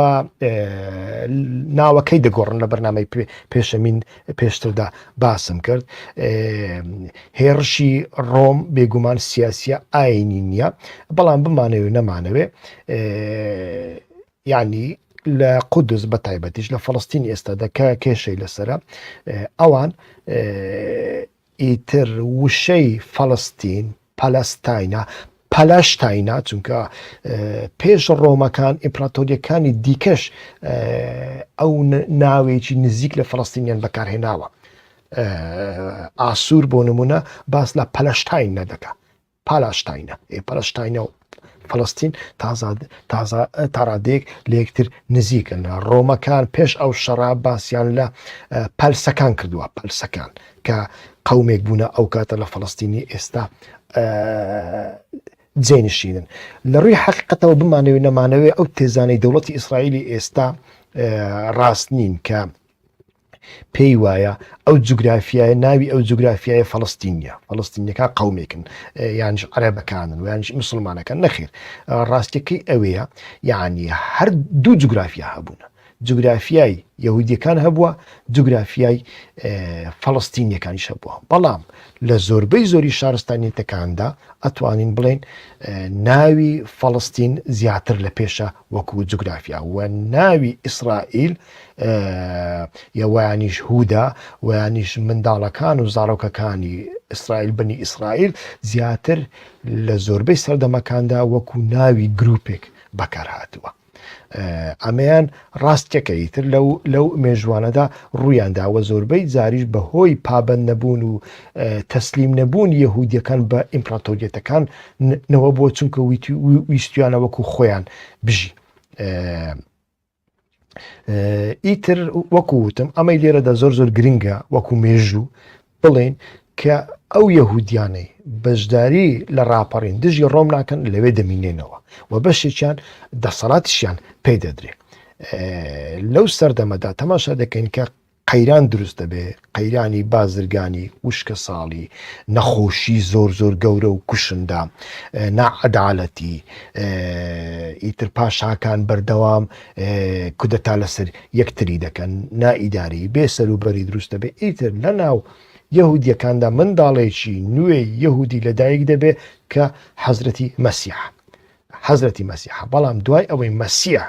ناوەکەی دەگۆڕن لە بەرنمەی پێشەمین پێشتردا باسم کرد هێڕشی ڕۆم بێگومان سیاسە ئاینی نییە بەڵام بمانەوێ نەمانەوێ ینی لە قودس بە تایبەتیش لە فلستین ئێستادا کە کێشەی لەسرە ئەوان ئیتر وشەی فەڵستین، پەلەستاینە، پەلەشتاینە، چونکە پێش ڕۆمەکان ئیمپراتۆرییەکانی دیکەش ئەو ناوێکی نزیک لە فەڵستینیان بەکارهێناوە. ئاسوور بۆ نمونە باس لە پەلەشتاین نەدەکە پالاستاینە ئێ پەلستاینە و فلستین تازاد تازا تاڕادێک لە یەکتر نزیکن ڕۆمەکان پێش ئەو شەڕا باسییان لە پەلسەکان کردووە پەلسەکان کە قومێک بوونە ئەو کاتە لە فلستینی ئێستا جێنشینن لە ڕووی حقیقەتەوە بمانەوێت نەمانەوێت ئەو تێزانەی دەوڵەتی ئیسرائیلی ئێستا ڕاست نین کە پێی وایە ئەو جوگرافیایە ناوی ئەو جوگرافیایە فەڵستینە فەڵستینەکە قومێکن یانش عەرەبەکانن و یانش مسلمانەکە نەخیر ڕاستەکەی ئەوەیە یعنی هەر دوو جوگرافیا هەبوونە جوگرافیای یهودیەکان هەبووە جوگرافیای فەڵستینیەکانیش هەبووە بەڵام لە زۆربەی زۆری شارستانیتەکاندا ئەتوانین بڵێن ناوی فەڵستین زیاتر لە پێشە وەکو جوگرافیا و ناوی ئیسرائیل یە وەیانیش هودا وەیانیش منداڵەکان و زاڕۆکەکانی ئیسرائیل بنی ئیسرائیل زیاتر لە زۆربەی سەردەمەکاندا وەکو ناوی گروپێک بەکار هاتووە ئەمەیان ڕاستکەکە ئیتر لەو مێژوانەدا ڕوویان داوە زۆربەی زاریش بە هۆی پابند نەبوون و تەسلیم نەبوون یەهودیەکان بە ئیمپراتۆریەتەکان نەوە بۆ چونکە ویستویانە وەکو خۆیان بژی. ئیتر وەکو وتم ئەمەی لێرەدا زۆر زۆر گرنگە وەکو مێژوو بڵێن کە ئەو یەهودیانەی بەشداری لە ڕاپەڕین دژی ڕۆم ناکەن لەوێ دەمینێنەوە و بەشێکیان دەسەڵاتشیان پێ دەدرێت لەو سەردەمەدا تەماشا دەکەین کە قەیران دروست دەبێ، قەیرانی بازرگانی، وشکەساڵی، نەخۆشی زۆر زۆر گەورە و کوشندە، ناعەدالەتی، ئیتر پاشاکان بەردەوام کودەتا لەسەر یەکتری دەکەن، نائیداری، بێ سەروبەری دروست دەبێ، ئیتر لەناو یەهودییەکاندا منداڵێکی نوێی یەهودی لەدایک دەبێ کە حەزرەتی مەسیحە. حەزرەتی مەسیحە بەڵام دوای ئەوەی مەسیح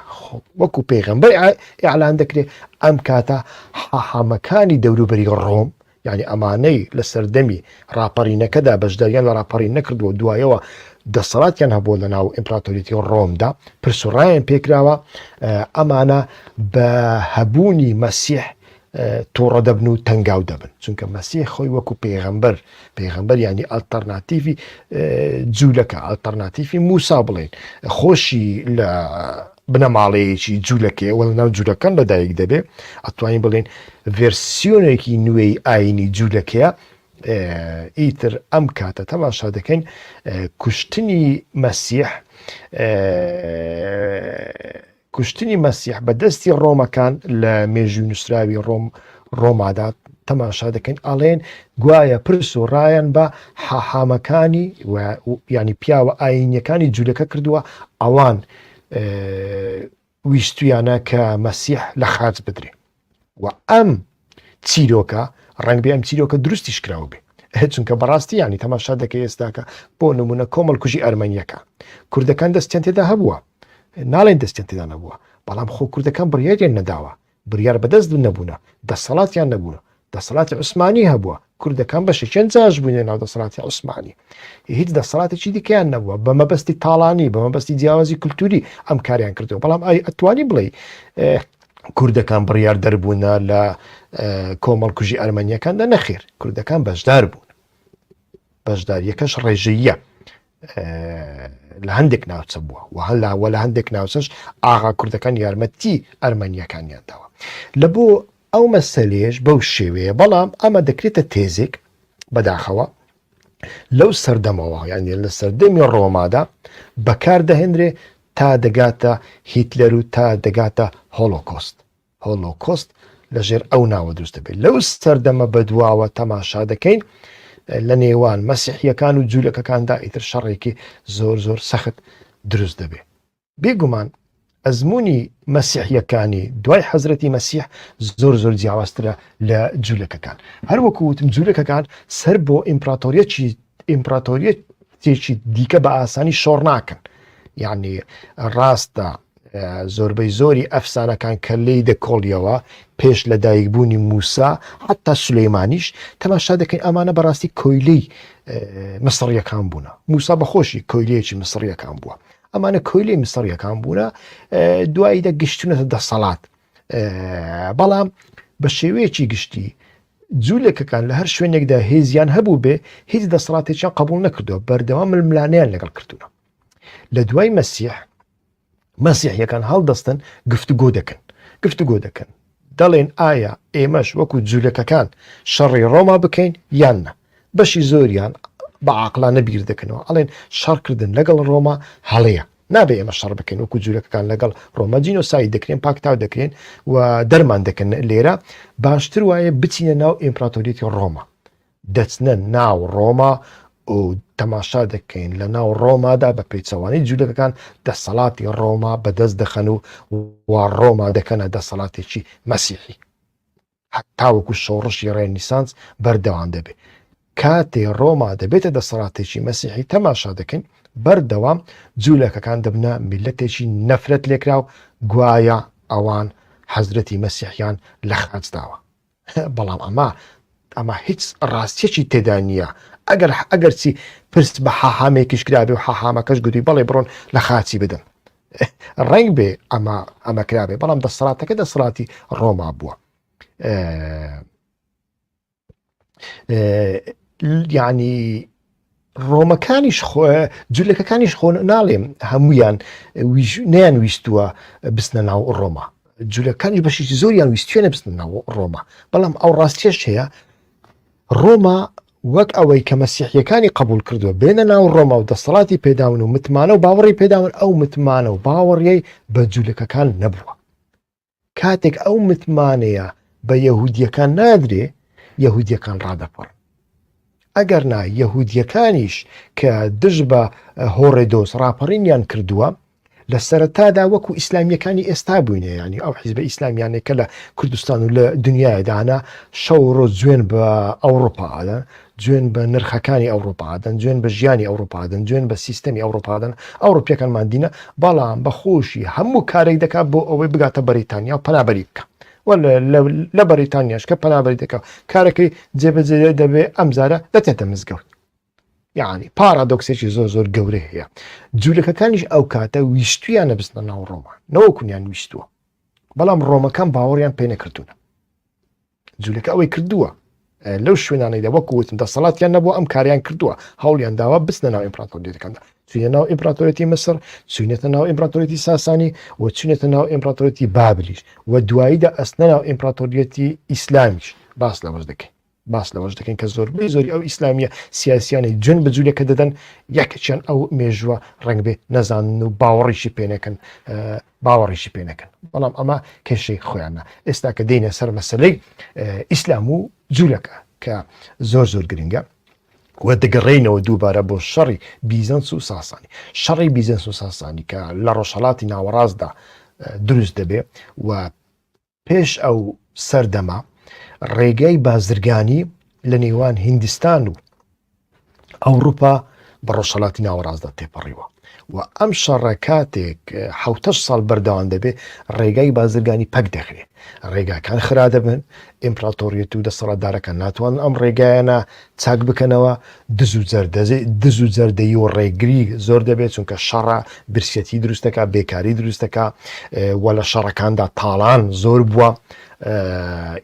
وەکو پێغمبەر ئیعلان دەکرێت ئەم کاتە حەحەمەکانی دەوروبەری ڕۆم یعنی ئەمانەی لە سەردەمی راپەڕینەکەدا بەشداریان لە راپەڕین نەکردووە دوایەوە دەسەڵاتیان هەبووە لە ناو ئیمپراتۆریتی ڕۆمدا پرسوڕایان پێکراوە ئەمانە بە هەبوونی مەسیح توڕە دەبن و تەنگاو دەبن چونکە مەسی خۆی وەکو پێغەمبەر پێغەمبەر ینی ئەلتەرناتیڤی جوولەکە ئەلتەرناتیفی موسا بڵێن خۆشی لە بنەماڵەیەکی جوولەکەی وەڵ ناو جوولەکان لەدایک دەبێ ئەتوانین بڵێن ڤێرسیۆنێکی نوێی ئاینی جوولەکەیە ئیتر ئەم کاتە تەماشا دەکەین کوشتنی مەسیح کوشتنی مەسیح بە دەستی ڕۆمەکان لە مێژوی نووسراوی ڕۆم ڕۆمادا تەماشا دەکەین ئاڵێن گوایە پرس و ڕایەن بە حەحامەکانی ینی پیاوە ئاینیەکانی جوولەکە کردووە ئەوان ویستویانە کە مەسیح لە خاچ بدرێ و ئەم چیرۆکە ڕنگ بێ ئەم چیرۆکە دروستیش کراوە بێ هەچونکە بەڕاستی ینی تەماشا دەکە ئێستاکە بۆ نمونە کۆمەڵ کوژی ئەرمەنیەکە کوردەکان دەستیان تێدا هەبووە ناڵێن دەستیان تێدا نەبووە بەڵام خۆ کوردەکان بڕیاریان نەداوە بڕیار بەدەست نەبوونە دەسەڵاتیان نەبوونە دەسەڵاتی عوسمانی هەبووە کوردەکان بەشێکیان جاش بوونە ناو دەسەڵاتی عوسمانی هیچ دەسەڵاتێکی دیکەیان نەبووە بە مەبەستی تاڵانی بە مەبەستی جیاوازی کللتوری ئەم کاریان کردو بەڵام ئای ئەتوانی بڵێ کوردەکان بڕیار دەربوونە لە کۆمەڵکوژی ئەرمەنیەکاندا نەخێر کوردەکان بەشدار بوون بەشداریەکەش ڕێژەیە لە هەندێک ناوچە بووە و هەلاوە لە هەندێک ناوچەش ئاغا کوردەکان یارمەتی ئەرمەنیەکانیان داوە لە بۆ ئەو مەسەلەیەش بەو شێوەیە، بەڵام ئەمە دەکرێتە تێزێک بەداخەوە لەو سەردەمەوە یانە لە سەردەمی ڕۆمادا بەکاردەهێنرێ تا دەگاتە هیتلەر و تا دەگاتە هۆلۆکۆست هۆلۆکۆست لەژێر ئەو ناوە دروستە بێت لەو سەردەمە بەدواوە تەماشا دەکەین لە نێوان مەسیحیەکان و جوولەکەکاندا ئیتر شەڕێکی زۆر زۆر سەخت دروست دەبێت بێگومان ئەزموونی مەسیحیەکانی دوای حەزرەتی مەسیح زۆر زۆر جیاوازترە لە جوولەکەکان هەروەکو وتم جوولەکەکان سەر بۆ ئیمپراتۆریەکی ئیمپراتۆریەت تێکی دیکە بە ئاسانی شۆڕ ناکەن یعنی ڕاستە زۆربەی زۆری ئەفسانەکان کە لی دەکۆڵیەوە پێش لە دایکبوونی موسا حتا سلەیمانیش تەماشا دەکەین ئەمانە بەڕاستی کۆیلەی مسڕیەکان بوون موسا بەخۆشی کۆیلەیەکی مسڕیەکان بووە ئەمانە کۆیلەی مسڕیەکان بوونە دوایی دە گشتونەتە دەسەڵات بەڵام بە شێوەیەکی گشتی جوولەکەکان لە هەر شوێنێکدا هێزیان هەبوو بێ هیچ دەسەڵاتێکیان قبول نەکردو بەردەوام ململانیان لەگەڵ کردوونە لە دوای مەسیح مەسیحیەکان هەڵدەستن گفتوگۆ دەکەن گفتوگۆ دەکەن دەڵێن ئایا ئێمەش وەکو جولەکەکان شەڕی ڕۆما بکەین یان نا؟ بەشی زۆریان بە عاقڵانە بیر دەکەنەوە ئەڵێن شەڕکردن لەگەڵ ڕۆما هەڵەیە نابێ ئێمە شەڕ بکەین وەکو جولەکەکان لەگەڵ ڕۆما جینۆسایی دەکرێن پاکتاو دەکرێن و دەرمان دەکەن لێرە باشتر وایە بچینە ناو ئیمپراتۆریەتی ڕۆما دەچنە ناو ڕۆما و تەماشا دەکەین لە ناو ڕۆمادا بە پێچەوانی جوولەکەکان دەسەڵاتی ڕۆما بەدەست دەخەن و وا ڕۆما دەکەنە دەسەڵاتێکی مەسیحی هەتاوەکو شۆڕشی ڕێنیسانس بەردەوام دەبێت کاتێ ڕۆما دەبێتە دەسەڵاتێکی مەسیحی تەماشا دەکەین بەردەوام جوولەکەکان دەبنە میلەتێکی نەفرەت لێکرا و گوایە ئەوان حەزرەتی مەسیحیان لە خاچداوە بەڵام ئەمە ئەمە هیچ ڕاستیەکی تێدا نییە ئەگەر ئەگەرچی پرس بە حەحامێکیش کرابێ و حەحامەکەش گوتی بەڵێ بڕۆن لە خاچی بدەن ڕنگ بێ ئەمە ئەمە کرابێ بەڵام دەسەڵاتەکە دەسەڵاتی ڕۆما بووە ینی ڕۆمەکانیش خۆ جولەکەکانیش خۆ ناڵێم هەمویان نیان ویستووە بستنە ناو ڕۆما جولەکانی بەشیی زۆریان ویستێنە بستن ناو ڕۆما بەڵام ئەو ڕاستێش هەیە ڕۆما وەک ئەوەی کە مەسیحیەکانی قبول کردووە بێنە ناو ڕۆما و دەسەڵاتی پێداون و متمانە و باوەڕی پێداون ئەو متمانە و باوەڕیەی بە جوولەکەکان نەبووە کاتێک ئەو متمانەیە بە یەهودیەکان نادرێ یەهودیەکان ڕادەپڕ ئەگەر نا یەهودیەکانیش کە دژ بە هۆڕێدۆس ڕاپەڕینیان کردووە لە سەرەتادا وەکو ئیسلامیەکانی ئێستا بووینە ینی ئەو حیزبە ئیسلامیانێکە لە کوردستان و لە دنیادا هەنا شەو ڕۆ جوێن بە ئەوروپا ئادا جوێن بە نرخەکانی ئەوڕوپا ئەدەن، جوێن بە ژیانی ئەوڕوپا ئەدەن، جوێن بە سیستەمی ئەوڕوپا ئەدەن، ئەوڕوپییەکانمان دینە، بەڵام بە خۆشی هەموو کارێک دەکات بۆ ئەوەی بگاتە بەریتانیا و پەنابەری بکە. و لە بەریتانیاش کە پەنابەری دەکە کارەکەی جێبەجێ دەبێ ئەمجارە دەچێتە مزگەوت. یعنی پارادۆکسێکی زۆر زۆر گەورە هەیە جوولەکەکانیش ئەو کاتە ویستویانە بستنە ناو ڕۆما نەوەکویان ویستووە بەڵام ڕۆمەکان باوەڕیان پێ نەکردوونە جولەکە ئەوەی کردووە لەو شوێنانەیدا وەکو وتم دەسەڵاتیان نەبوو ئەم کاریان کردووە هەوڵیان داوا بستە ناو ئیمپراتۆریەکاندا چینە ناو ئیمپراتۆرەتی مسر چینێتە ناو ئیمپراتۆریەتی ساسانی و چینێتە ناو ئیمپراتۆرەتی بابلیش و دواییدا ئەستە ناو ئیمپراتۆریەتی ئیسلامیش باس لەوەش دەکەین باس لەوەش دەکەین کە زۆربەی زۆری ئەو ئیسلامیە سیاسیانی جون بە جوولەکە دەدەن یەکچەند ئەو مێژووە ڕنگ بێ نەزانن و باوەڕیشی پێنەکەن باوەڕیشی پێ نەکەن بەڵام ئەمە کێشەی خۆیانە ئێستا کە دێنە سەر مەسلەی ئیسلام و جوولەکە کە زۆر زۆر گرنگە و دەگەڕێینەوە دووبارە بۆ شەڕی بیزەنس و ساسانی شەڕی بیزەنس و ساسانی کە لە ڕۆژهڵاتی ناوەڕاستدا دروست دەبێ و پێش ئەو سەردەمە ڕێگەی بازرگانی لە نێوان هیندستان و ئەوروپا بە ڕۆژهڵاتی ناوەڕاستدا تێپەڕیوە و ئەم شەڕە کاتێک حوتە ساڵ بەردەوام دەبێ ڕێگای بازرگانی پەک دەخرێت ڕێگاکان خرا دەبن ئیمپراتۆریەت و دەسەڵاتدارەکان ناتوان ئەم ڕێگایانە چاک بکەنەوە دز و جەردەزی دز و جەردەیی و ڕێگری زۆر دەبێت چونکە شەڕە برسیەتی دروستەکە بێکاری دروستەکە وە لە شەڕەکاندا تاڵان زۆر بووە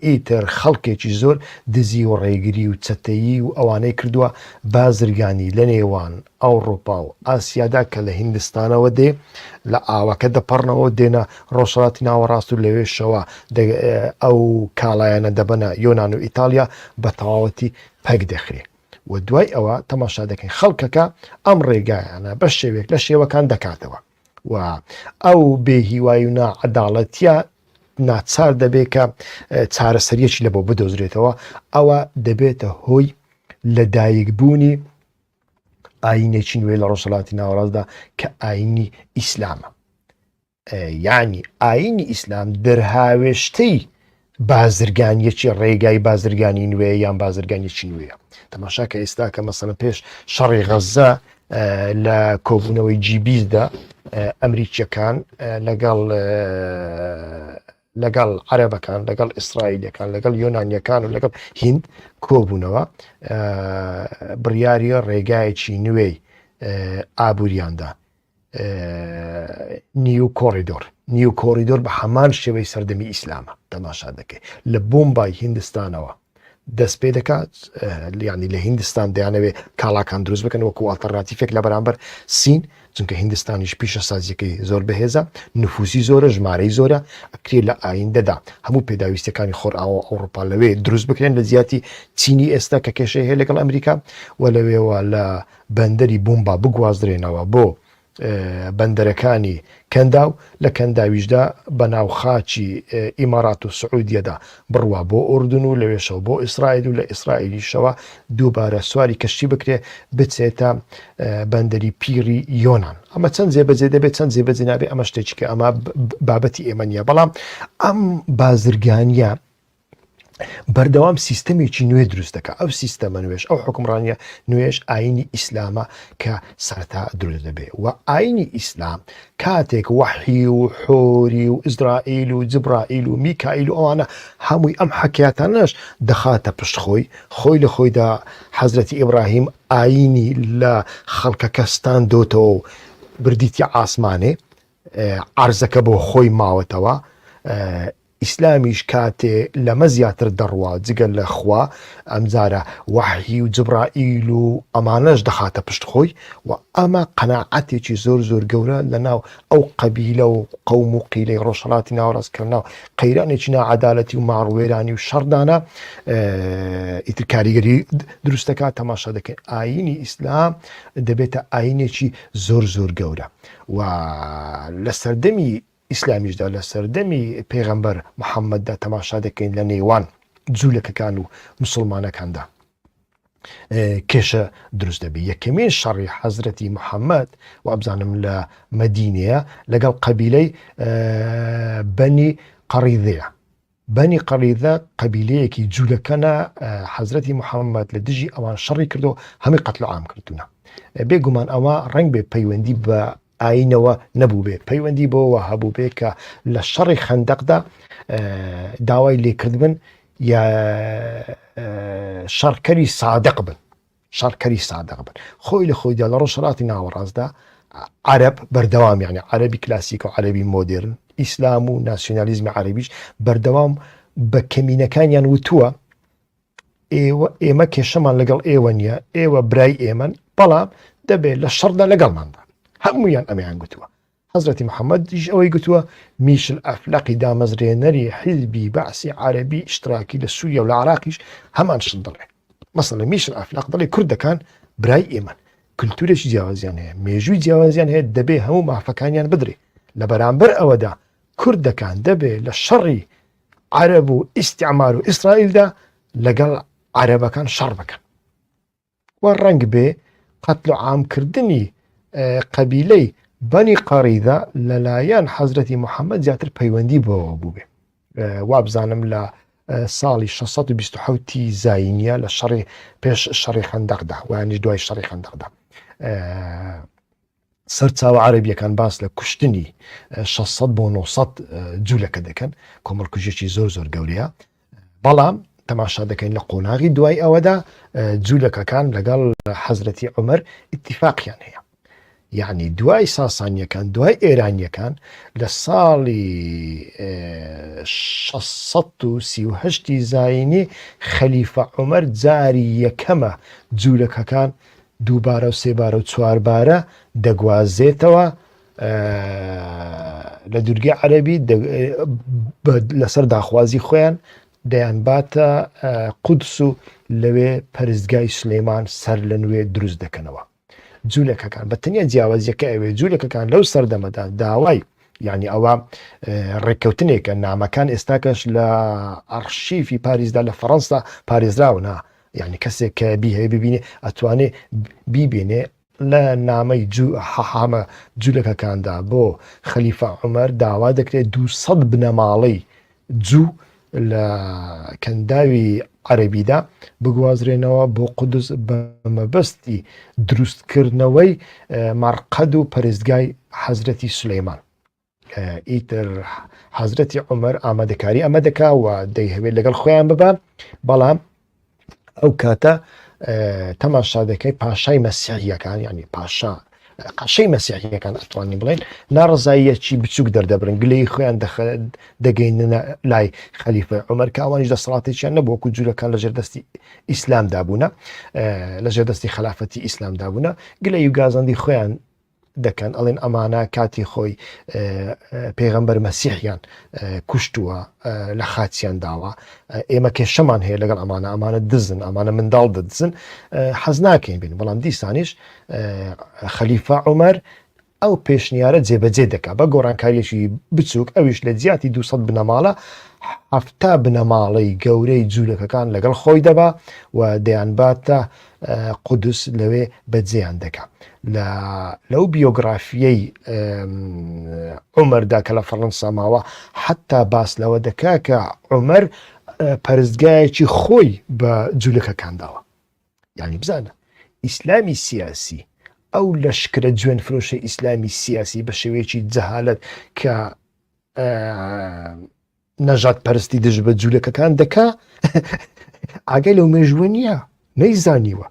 ئیتر خەڵکێکی زۆر دزی و ڕێگری و چەتەیی و ئەوانەی کردووە بازرگانی لە نێوان ئەوڕوپا و ئاسیادا کە لە هیندستانەوە دێ لە ئاوەکە دەپەڕنەوە و دێنە ڕۆژهەڵاتی ناوەڕاست و لەوێشەوە ئەو کاڵایانە دەبەنە یۆنان و ئیتاڵیا بە تەواوەتی پەک دەخرێ و دوای ئەوە تەماشا دەکەین خەڵکەکە ئەم ڕێگایانە بە شێوێک لە شێوەکان دەکاتەوە و ئەو بێ هیوای و ناعەداڵەتیە ناچار دەبێت کە چارەسەریەکی لە بۆ بدۆزرێتەوە ئەوە دەبێتە هۆی لەدایکبوونی ئاینێکی نوێ لە ڕۆژهڵاتی ناوەڕاستدا کە ئاینی ئیسلامە یعنی ئاینی ئیسلام دەرهاوێشتەی بازرگانیەکی ڕێگای بازرگانی نوێ یان بازرگانیەکی نوێە تەماشا کە ئێستا کە مەسەە پێش شەڕی غەزە لە کۆبوونەوەی جیبیزدا ئەمریکیەکان لەگەڵ لەگەڵ عەرەبەکان لەگەڵ ئیسرائیلەکان لەگەڵ یۆنانیەکان و لەگەڵ هند کۆبوونەوە بڕیاری ڕێگایەکی نوێی ئابووریاندا نیو کۆریدۆر نیو کۆریدۆر بە هەمان شێوەی سەردەمی ئیسلامە تەماشا دەکەێت لە بۆمبای هندستانەوە دەست پێ دەکات لیانی لە هندستان دەیانەوێ کاڵاکان دروست بکەن وەکو ئاڵتەرناتیفێک لە بەرامبەر سین چونکە هندستانیش پیشە سازیەکەی زۆر بەهێزە نفوسی زۆرە ژمارەی زۆرە ئەکرێ لە ئایندەدا هەموو پێداویستەکانی خۆرئاوە ئەوروپا لەوێ دروست بکرێن لە زیاتی چینی ئێستا کە کێشەیە لەگەڵ ئەمریکا و لەوێوە لە بەندەری بومبا بگوازرێنەوە بۆ بەندەرەکانی کەنداو لە کەنداویشدا بە ناو خاکی ئیمارات و سعودیەدا بڕوا بۆ ئوردن و لەوێشەوە بۆ ئیسرائیل و لە ئیسرائیلیشەوە دووبارە سواری کەشتی بکرێ بچێتە بەندەری پیری یۆناان ئەمە چەند جێبەجێ دەبێت چەند جێبەجێ نابێ ئەمە شتێکی کە ئەمە بابەتی ئێمە نیە بەڵام ئەم بازرگانیە بەردەوام سیستەمێکی نوێ دروست دەکە ئەو سیستەمە نوێش ئەو حکمڕانە نوێش ئاینی ئیسلامە کە سەرتا دروست دەبێ و ئاینی ئیسلام کاتێک وەحی و حۆری و ئیسرائیل و جبرائیل و میکائیل و ئەوانە هەمووی ئەم حکیاتانەش دەخاتە پشت خۆی خۆی لە خۆیدا حەزرەتی ئیبراهیم ئاینی لە خەڵکەکەستان دۆتەوە و بردیتی ئاسمانێ عرزەکە بۆ خۆی ماوەتەوە ئیسلامیش کاتێ لەمە زیاتر دەڕوا جگە لە خوا ئەمجارە وەحی و جبرائیل و ئەمانەش دەخاتە پشت خۆی و ئەمە قەناعەتێکی زۆر زۆر گەورە لەناو ئەو قەبیلە و قەوم و قیلەی ڕۆژهەڵاتی ناوەڕاست کە لەناو قەیرانێکی ناعەدالەتی و ماڕوێرانی و شەڕدانە ئیتر کاریگەری دروست دەکات تەماشا دەکەین ئاینی ئیسلام دەبێتە ئاینێکی زۆر زۆر گەورە و لە سەردەمی ئیسلامیشدا لە سەردەمی پێغەمبەر محەمەددا تەماشا دەکەین لە نێوان جولەکەکان و موسڵمانەکاندا کێشە دروست دەبێت یەکەمین شەڕی حەزرەتی محەممەد وابزانم لە مەدینەیە لەگەڵ قەبیلەی بەنی قەڕیدەیە بەنی قەریزە قەبیلەیەکی جولەکەنە حەزرەتی محەممەد لە دژی ئەوان شەڕی کردو هەمی قەتل و عام کردوونە بێگومان ئەوە ڕنگ بێ پەیوەندی بە ئاینەوە نەبوو بێ پەیوەندی بۆەوە هەبوو بێ کە لە شەڕی خەندەقدا داوای لێکردبن یا شەڕکەری سادق بن شەڕکەری سادق بن خۆی لە خۆیدا لە ڕۆژهەڵاتی ناوەڕاستدا عەرەب بەردەوام یانە عەرەبی کلاسیک و عەرەبی مۆدرن ئیسلام و ناسیۆنالیزمی عەربیش بەردەوام بە کەمینەکانیان وتووە ئێوە ئێمە کێشەمان لەگەڵ ئێوە نییە ئێوە برای ئێمەن بەڵام دەبێت لە شەڕدا لەگەڵماندا هەمویان ئەمیان گوتووە حەزرەتی محەمەد یش ئەوەی گوتووە، میشل ئەفلەقی دامەزرێنەری حیزبی بەعسی عارەبی ئیشتراکی لە سووریە و لە عراقیش هەمان شت دەڵێ. مەسەلەن میشل ئەفلەق دەڵێ کوردەکان برای ئێمەن، کلتوورێکی جیاوازیان هەیە، مێژووی جیاوازیان هەیە دەبێ هەموو مافەکانیان بدرێ. لە بەرامبەر ئەوەدا کوردەکان دەبێ لە شەڕی عەرەب و ئیستیعمار و ئیسرائیلدا لەگەڵ عەرەبەکان شەڕ بکەن. و ڕەنگ بێ قەتل و عام کردنی قەبیلەی بەنی قەڕیدا لەلایەن حەزرەتی محەممەد زیاتر پەیوەندی بەوە بووێ وابزانم لە ساڵی 1620 زینە لە شەڕی پێش شەڕی خەندەقدا وانیش دوای شەڕی خەندەقدا سەرچاوە عەرەبییەکان باس لە کوشتنی 600 بۆ 900 جوولەکە دەکەن کۆمەڵکوژێکی زۆر زۆر گەورەیە بەڵام تەماشا دەکەین لە قۆناغی دوای ئەوەدا جوولەکەکان لەگەڵ حەزرەتی عمر اتفاقیان هەیە یعنی دوای ساسانیەکان دوای ئێرانیەکان لە ساڵی 1630 زینی خەلیفە عمر جاری یەکەمە جوولەکەکان دووبارە و سێبارە و چواربارە دەگوازێتەوە لە دوورگەی عەربی لەسەر داخوازی خۆیان دەیان باتە قودس و لەوێ پەرستگای سلەیمان سەر لە نوێ دروست دەکەنەوە جوولەکەکان بە تەنیا جیاوازیەکە ئەوێ جوولەکەکان لەو سەردەمەدا داوای یعنی ئەوە ڕێککەوتنێکە نامەکان ئێستاکەش لە ئەرشیفی پاریزدا لە فەڕەنسا پارێزراونە یانی کەسێک کە بیهەیە ببینێ ئەتوانێ بیبێنێ لە نامەی حەحامە جولەکەکاندا بۆ خەلیفە عمر داوا دەکرێت دو سەد بنەماڵەی جوو لە کەنداوی عەربیدا بگوازرێنەوە بۆ قودس بە مەبەستی دروستکردنەوەی مارقەد و پەرستگای حەزرەتی سلەیمان ئیتر حەزرەتی عمر ئامادەکاری ئەمە دەکا و دەیهوێت لەگەڵ خۆیان ببە بەڵام ئەو کاتە تەماشا دەکەی پاشای مەسیحیەکان ینی پاشا قەشەی مەسیحیەکان ئەتوانی بڵێن ناڕزاییەکی بچووک دەردەبرن گلەی خۆیان دەگەینە لای خەلیفە عمر کاوانیش دەسەڵاتێکیان نەبووکو جوورەکان لە ژێردەستی ئیسلام دابوونە لە ژێردەستی خلافەتی ئیسلام دابوونە گلە یوگازاندی خۆیان دەکەن ئەڵێن ئەمانە کاتی خۆی پێغەمبەر مەسیحیان کوشتووە لە خاچیان داوە ئێمە کێشەمان هەیە لەگەڵ ئەمانە ئەمانە دزن ئەمانە منداڵ دەدزن حەز ناکەین بین بەڵام دیسانیش خەلیفە عمر ئەو پێشنیارە جێبەجێ دەکا بە گۆڕانکاریەکی بچووک ئەویش لە جیاتی 200 بنەماڵە هەفتا بنەماڵەی گەورەی جوولەکەکان لەگەڵ خۆی دەبا و دەیانباتە قودس لەوێ بە جێیان دەکا لە لەو بیۆگرافیەی عمەردا کە لە فەڕەنسا ماوە حتا باس لەوە دەکا کە عمەر پەرستگایەکی خۆی بە جوولەکەکان داوە یعنی بزانە ئیسلامی سیاسی ئەو لە شکرە جوێن فرۆشە ئیسلامی سیاسی بە شێوەیەکی جەهالت کە نەژاد پەرستی دژ بە جوولەکەکان دەکا ئاگەی لەو مێژووە نییە نەیزانیوە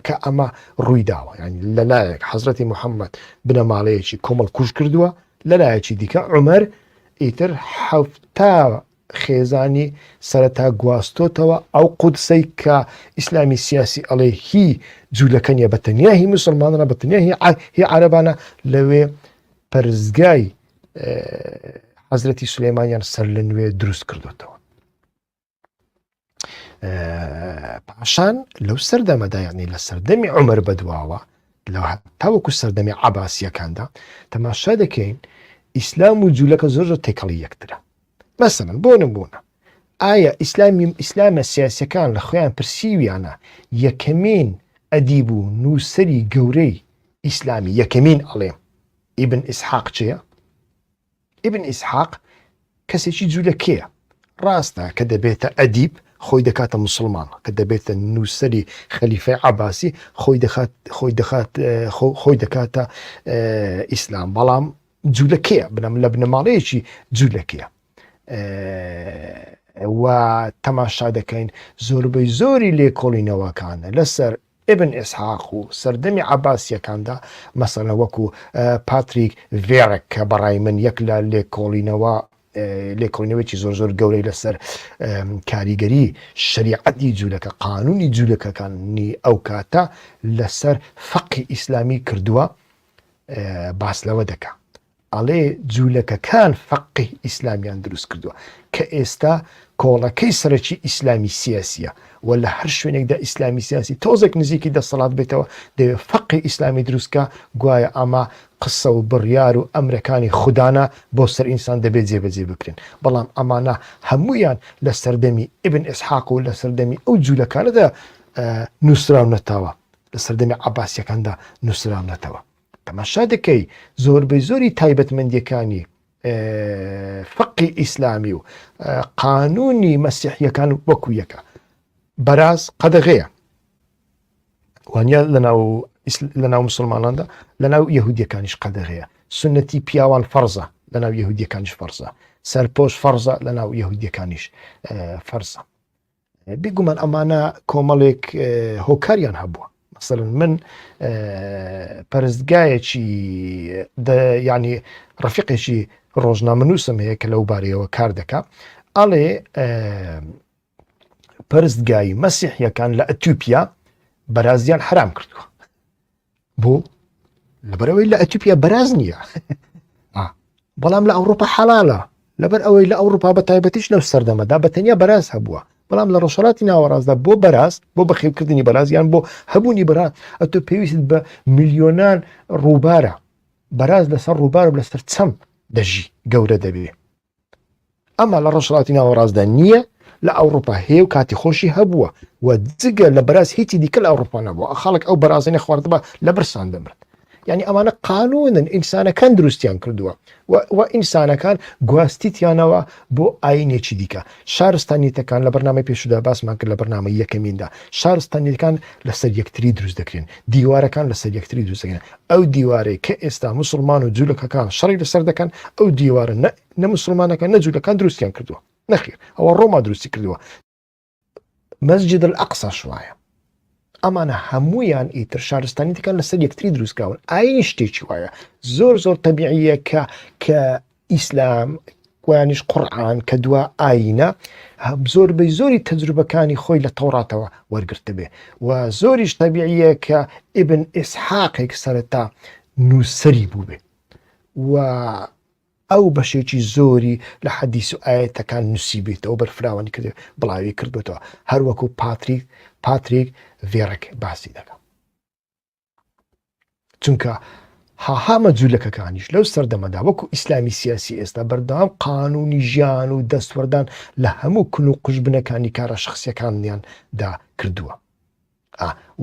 کە ئەمە ڕووی داوە ینی لەلایەک حەزرەتی محەممەد بنەماڵەیەکی کۆمەڵ کوژ کردووە لەلایەکی دیکە عمر ئیتر حەفتا خێزانی سەرەتا گواستۆتەوە ئەو قودسەی کە ئیسلامی سیاسی ئەڵێ هی جوولەکە نیە بەتەنیا هی مسلمانە بەتەنیا هی عربانە لەوێ پەرزگای حەزرەتی سلێمانیان سەر لە نوێ دروست کردوێتەوە پاشان لەو سەردەمەدایانی لە سەردەمی عمر بەدواوە لە تاوەکو سەردەمی عباسیەکاندا تەماشا دەکەین ئیسلام و جوولەکە زۆر زۆر تێکەڵی یەکترە مەسەن بۆ نمبوونە ئایا ئیسلامی ئیسلامە سیاسەکان لە خۆیان پرسیویانە یەکەمین ئەدیب و نووسری گەورەی ئیسلامی یەکەمین ئەڵێم ئیبن ئیسحاق چێە؟ ئیبن ئیسحاق کەسێکی جوولەکەیە ڕاستە کە دەبێتە ئەدیب خۆی دەکاتە مسلمان کە دەبێتە نووسری خەلیفی عباسی خۆی دەخات خۆی دەخات خۆی دەکاتە ئیسلام بەڵام جوولەکەیە بنەم لە بنەماڵەیەکی جوولەکەیە و تەماشا دەکەین زۆربەی زۆری لێکۆڵینەوەکانە لەسەر ئیبن ئیسحاق و سەردەمی عەباسییەکاندا مەسەلەن وەکو پاتریک ڤێرەک کە بەڕای من یەک لە لێکۆڵینەوە لێکۆڵینەوەیەکی زۆر زۆر گەورەی لەسەر کاریگەری شریعەتی جوولەکە قانونی جوولەکەکانی ئەو کاتە لەسەر فەقی ئیسلامی کردووە باس لەوە دەکە ئەڵێ جولەکەکان فەقێی ئیسلامیان دروست کردوە کە ئێستا کۆڵەکەی سەرەکی ئیسلامی سیاسیە و لە هەر شوێنێکدا ئیسلامی سیاسی تۆزێک نزیکی دەسەڵات بێتەوە دەوێت فەقی ئیسلامی دروستکە گوایە ئەمە قسە و بڕیار و ئەمرەکانی خوددانە بۆ سەر ئینسان دەبێت جێبەجێ بکرێن بەڵام ئەمانە هەمویان لە سەردەمی ئبن ئسحاق و لە سەردەمی ئەو جوولەکانەدا نووسراونەتەوە لە سەردەمی عباسیەکاندا نووسراونەتەوە تەماشا دەکەی زۆربەی زۆری تایبەتمەندیەکانی فقی ئیسلامی و قانونی مەسیحیەکان و وەکو یەکە بەراز قەدەغەیە وانە لەناو لەناو مسلماناندا لەناو یهودیەکانیش قەدەغەیە سنەتی پیاوان فەرزە لەناو یهودیەکانیش فەرزە سەرپۆش فەرزە لەناو یهودیەکانیش فەرزە بیگومان ئەمانە کۆمەڵێک هۆکاریان هەبووە مەسەن من پەرستگایەکی ینی ڕفقێکی ڕۆژنامەنووسم هەیە کە لەو بارەیەوە کار دەکا ئەڵێ پرستگای مەسیحیەکان لە ئەتیوپیا بەرازیان حرام کردووە بۆ لەبەرەوەی لە ئەتیپیا بەراز نییە بەڵام لە ئەوروپا حەڵالە لەبەر ئەوەی لە ئەوروپا بە تایبەتیش لەو سەردەمەدا بە تەنیا بەراز هەبووە بەڵام لە ڕۆژهڵاتی ناوەڕاستدا بۆ بەراز بۆ بەخێوکردنی بەرازیان بۆ هەبوونی بەراز ئەتۆ پێویست بە میلیۆنان ڕووبارە بەراز لەسەر ڕووبارە لەسەر چەم دەژی گەورە دەبێ ئەمە لە ڕۆژهڵاتی ناوەڕاستدا نییە لە ئەوروپا هەیە و کاتی خۆشی هەبووە و جگە لە بەراز هیچی دیکە لە ئەوروپا نەبووە خەڵک ئەو بەرازێنە خواردبە لە برسان دەمرن یعنی ئەمانە قانونن ئینسانەکان دروستیان کردووە و ئینسانەکان گواستیتیانەوە بۆ ئاینێکی دیکە شارستانیتەکان لە بەرنامەی پێشدا باسمان کرد لە بەرنامە یەکەمیندا شارستانیەکان لەسەر یەکتری دروست دەکرێن دیوارەکان لەسەر یەکتری دروستەکەن ئەو دیوارەی کە ئێستا موسڵمان و جولەکەکان شەڕی لەسەر دەکەن ئەو دیوارە نە نە مسلمانەکان نە جولەکان دروستیان کردووە نەخیر ئەوە ڕۆما دروستی کردووە مەسجد الأقصاش وایە ئەمانە هەمویان ئیتر شارستانی دەکەن لەسەر یەکتری دروستکراون ئاین شتێکی وایە زۆر زۆر تەبیعیە کە کە ئیسلام، و یانیش قوڕئان کە دوا ئایینە زۆربەی زۆری تەجروبەکانی خۆی لە تەوڕاتەوە وەرگرتبێ و زۆریش تەبیعییە کە ئیبن ئیسحاقێک سەرەتا نووسەری بووبێ و ئەو بەشێکی زۆری لە حەدیس و ئاەتەکان نووسیبێتەوە بەرفراوانی کرد بڵاوی کردوێتەوە هەروەکو پاتریک پاتریک ڤێڕک باسی دەکە چونکە هاهامە جوولەکەکانیش لەو سەردەمەدا وەکو ئیسلامی سیاسی ئێستا بەردەوام قانونی ژیان و دەستوەردان لە هەموو کل و قژبنەکانی کارە شخصیەکانیان دا کردووە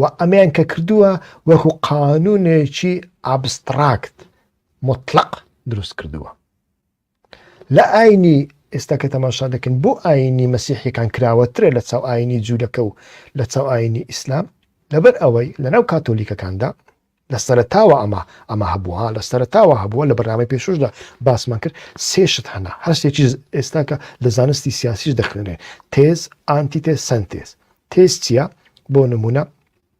و ئەمیان کە کردووە وەکو قانونێکی ئابستراکت مطلق دروست کردووە لە ئاینی ئێستا کە تەماشا دەکەن بۆ ئاینی مەسیحیەکان کراوەترە لە چاو ئاینی جوولەکە و لە چاو ئاینی ئیسلام لەبەر ئەوەی لەناو کاتۆلیکەکاندا لە سەرتاوە ئەمە ئەمە هەبووە لە سەرتاوە هەبووە لە بەرنامەی پێشوشدا باسمان کرد سێشت هەنا هەستێکی ئێستاکە لە زانستی سیاسیش دەخوێنێ تێز ئانتیتێ سنتێز تێز چییە بۆ نمونە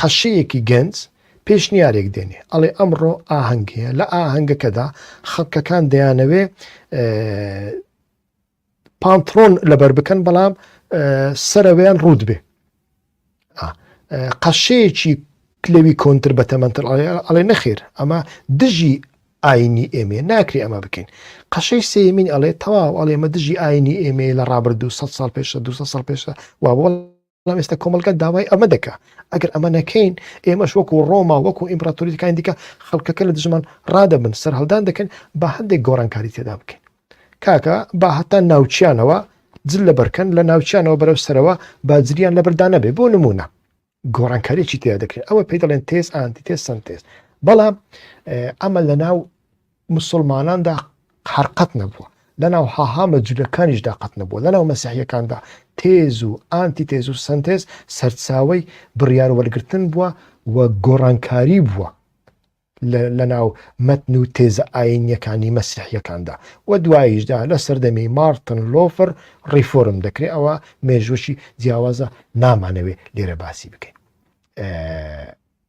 قەشەیەکی گەنج پێشنیارێک دێنێ ئەڵێ ئەمڕۆ ئاهەنگ هەیە لە ئاهەنگەکەدا خەڵکەکان دەیانەوێ پانتڕۆن لەبەر بکەن بەڵام سەرەوەیان ڕوود بێ قەشەیەکی کلەوی کۆنتر بە تەمەندتر ئەڵێ نەخێر ئەمە دژی ئاینی ئێمێ ناکری ئەمە بکەین قەشەی سێمین ئەڵێ تەواو ئەڵێمە دژی ئاینی ئێمە لە ڕابردوو 100 سال پێشە 200 سال پێشە وا بۆڵ بەڵام ئێستا کۆمەڵگا داوای ئەمە دەکا ئەگەر ئەمە نەکەین ئێمەش وەکو ڕۆما وەکو ئیمپراتوریەکانی دیکە خەڵکەکە لە دژمان ڕادەبن سەررهڵدان دەکەن بە هەندێک گۆڕانکاری تێدا بکەین کاکە با هەتا ناوچیانەوە جل لە بەرکەن لە ناوچیانەوە بەرەو سەرەوە باجریان لە بەردا نەبێ بۆ نمونە گۆڕانکاریی تیا دەکرێت ئەوە پێی دەڵێن تێز ئاندی تێ سنتێز بەڵام ئەمە لە ناو موسڵماناندا هەر قەت نەبووە، لەناو هاهامە جولەکانیشدا قەت نەبووە، لەناو مەسیحییەکاندا تێز و ئانتی تێز و سەنتێز سەرچاوەی بڕیار وەرگرتن بووە و گۆڕانکاری بووە لەناو مەتن و تێزە ئاینییەکانی مەسیحییەکاندا و دواییشدا لە سەردەمی مارتن لۆفر ڕیفۆرم دەکرێت ئەوە مێژوەکی جیاوازە نامانەوێ لێرە باسی بکەین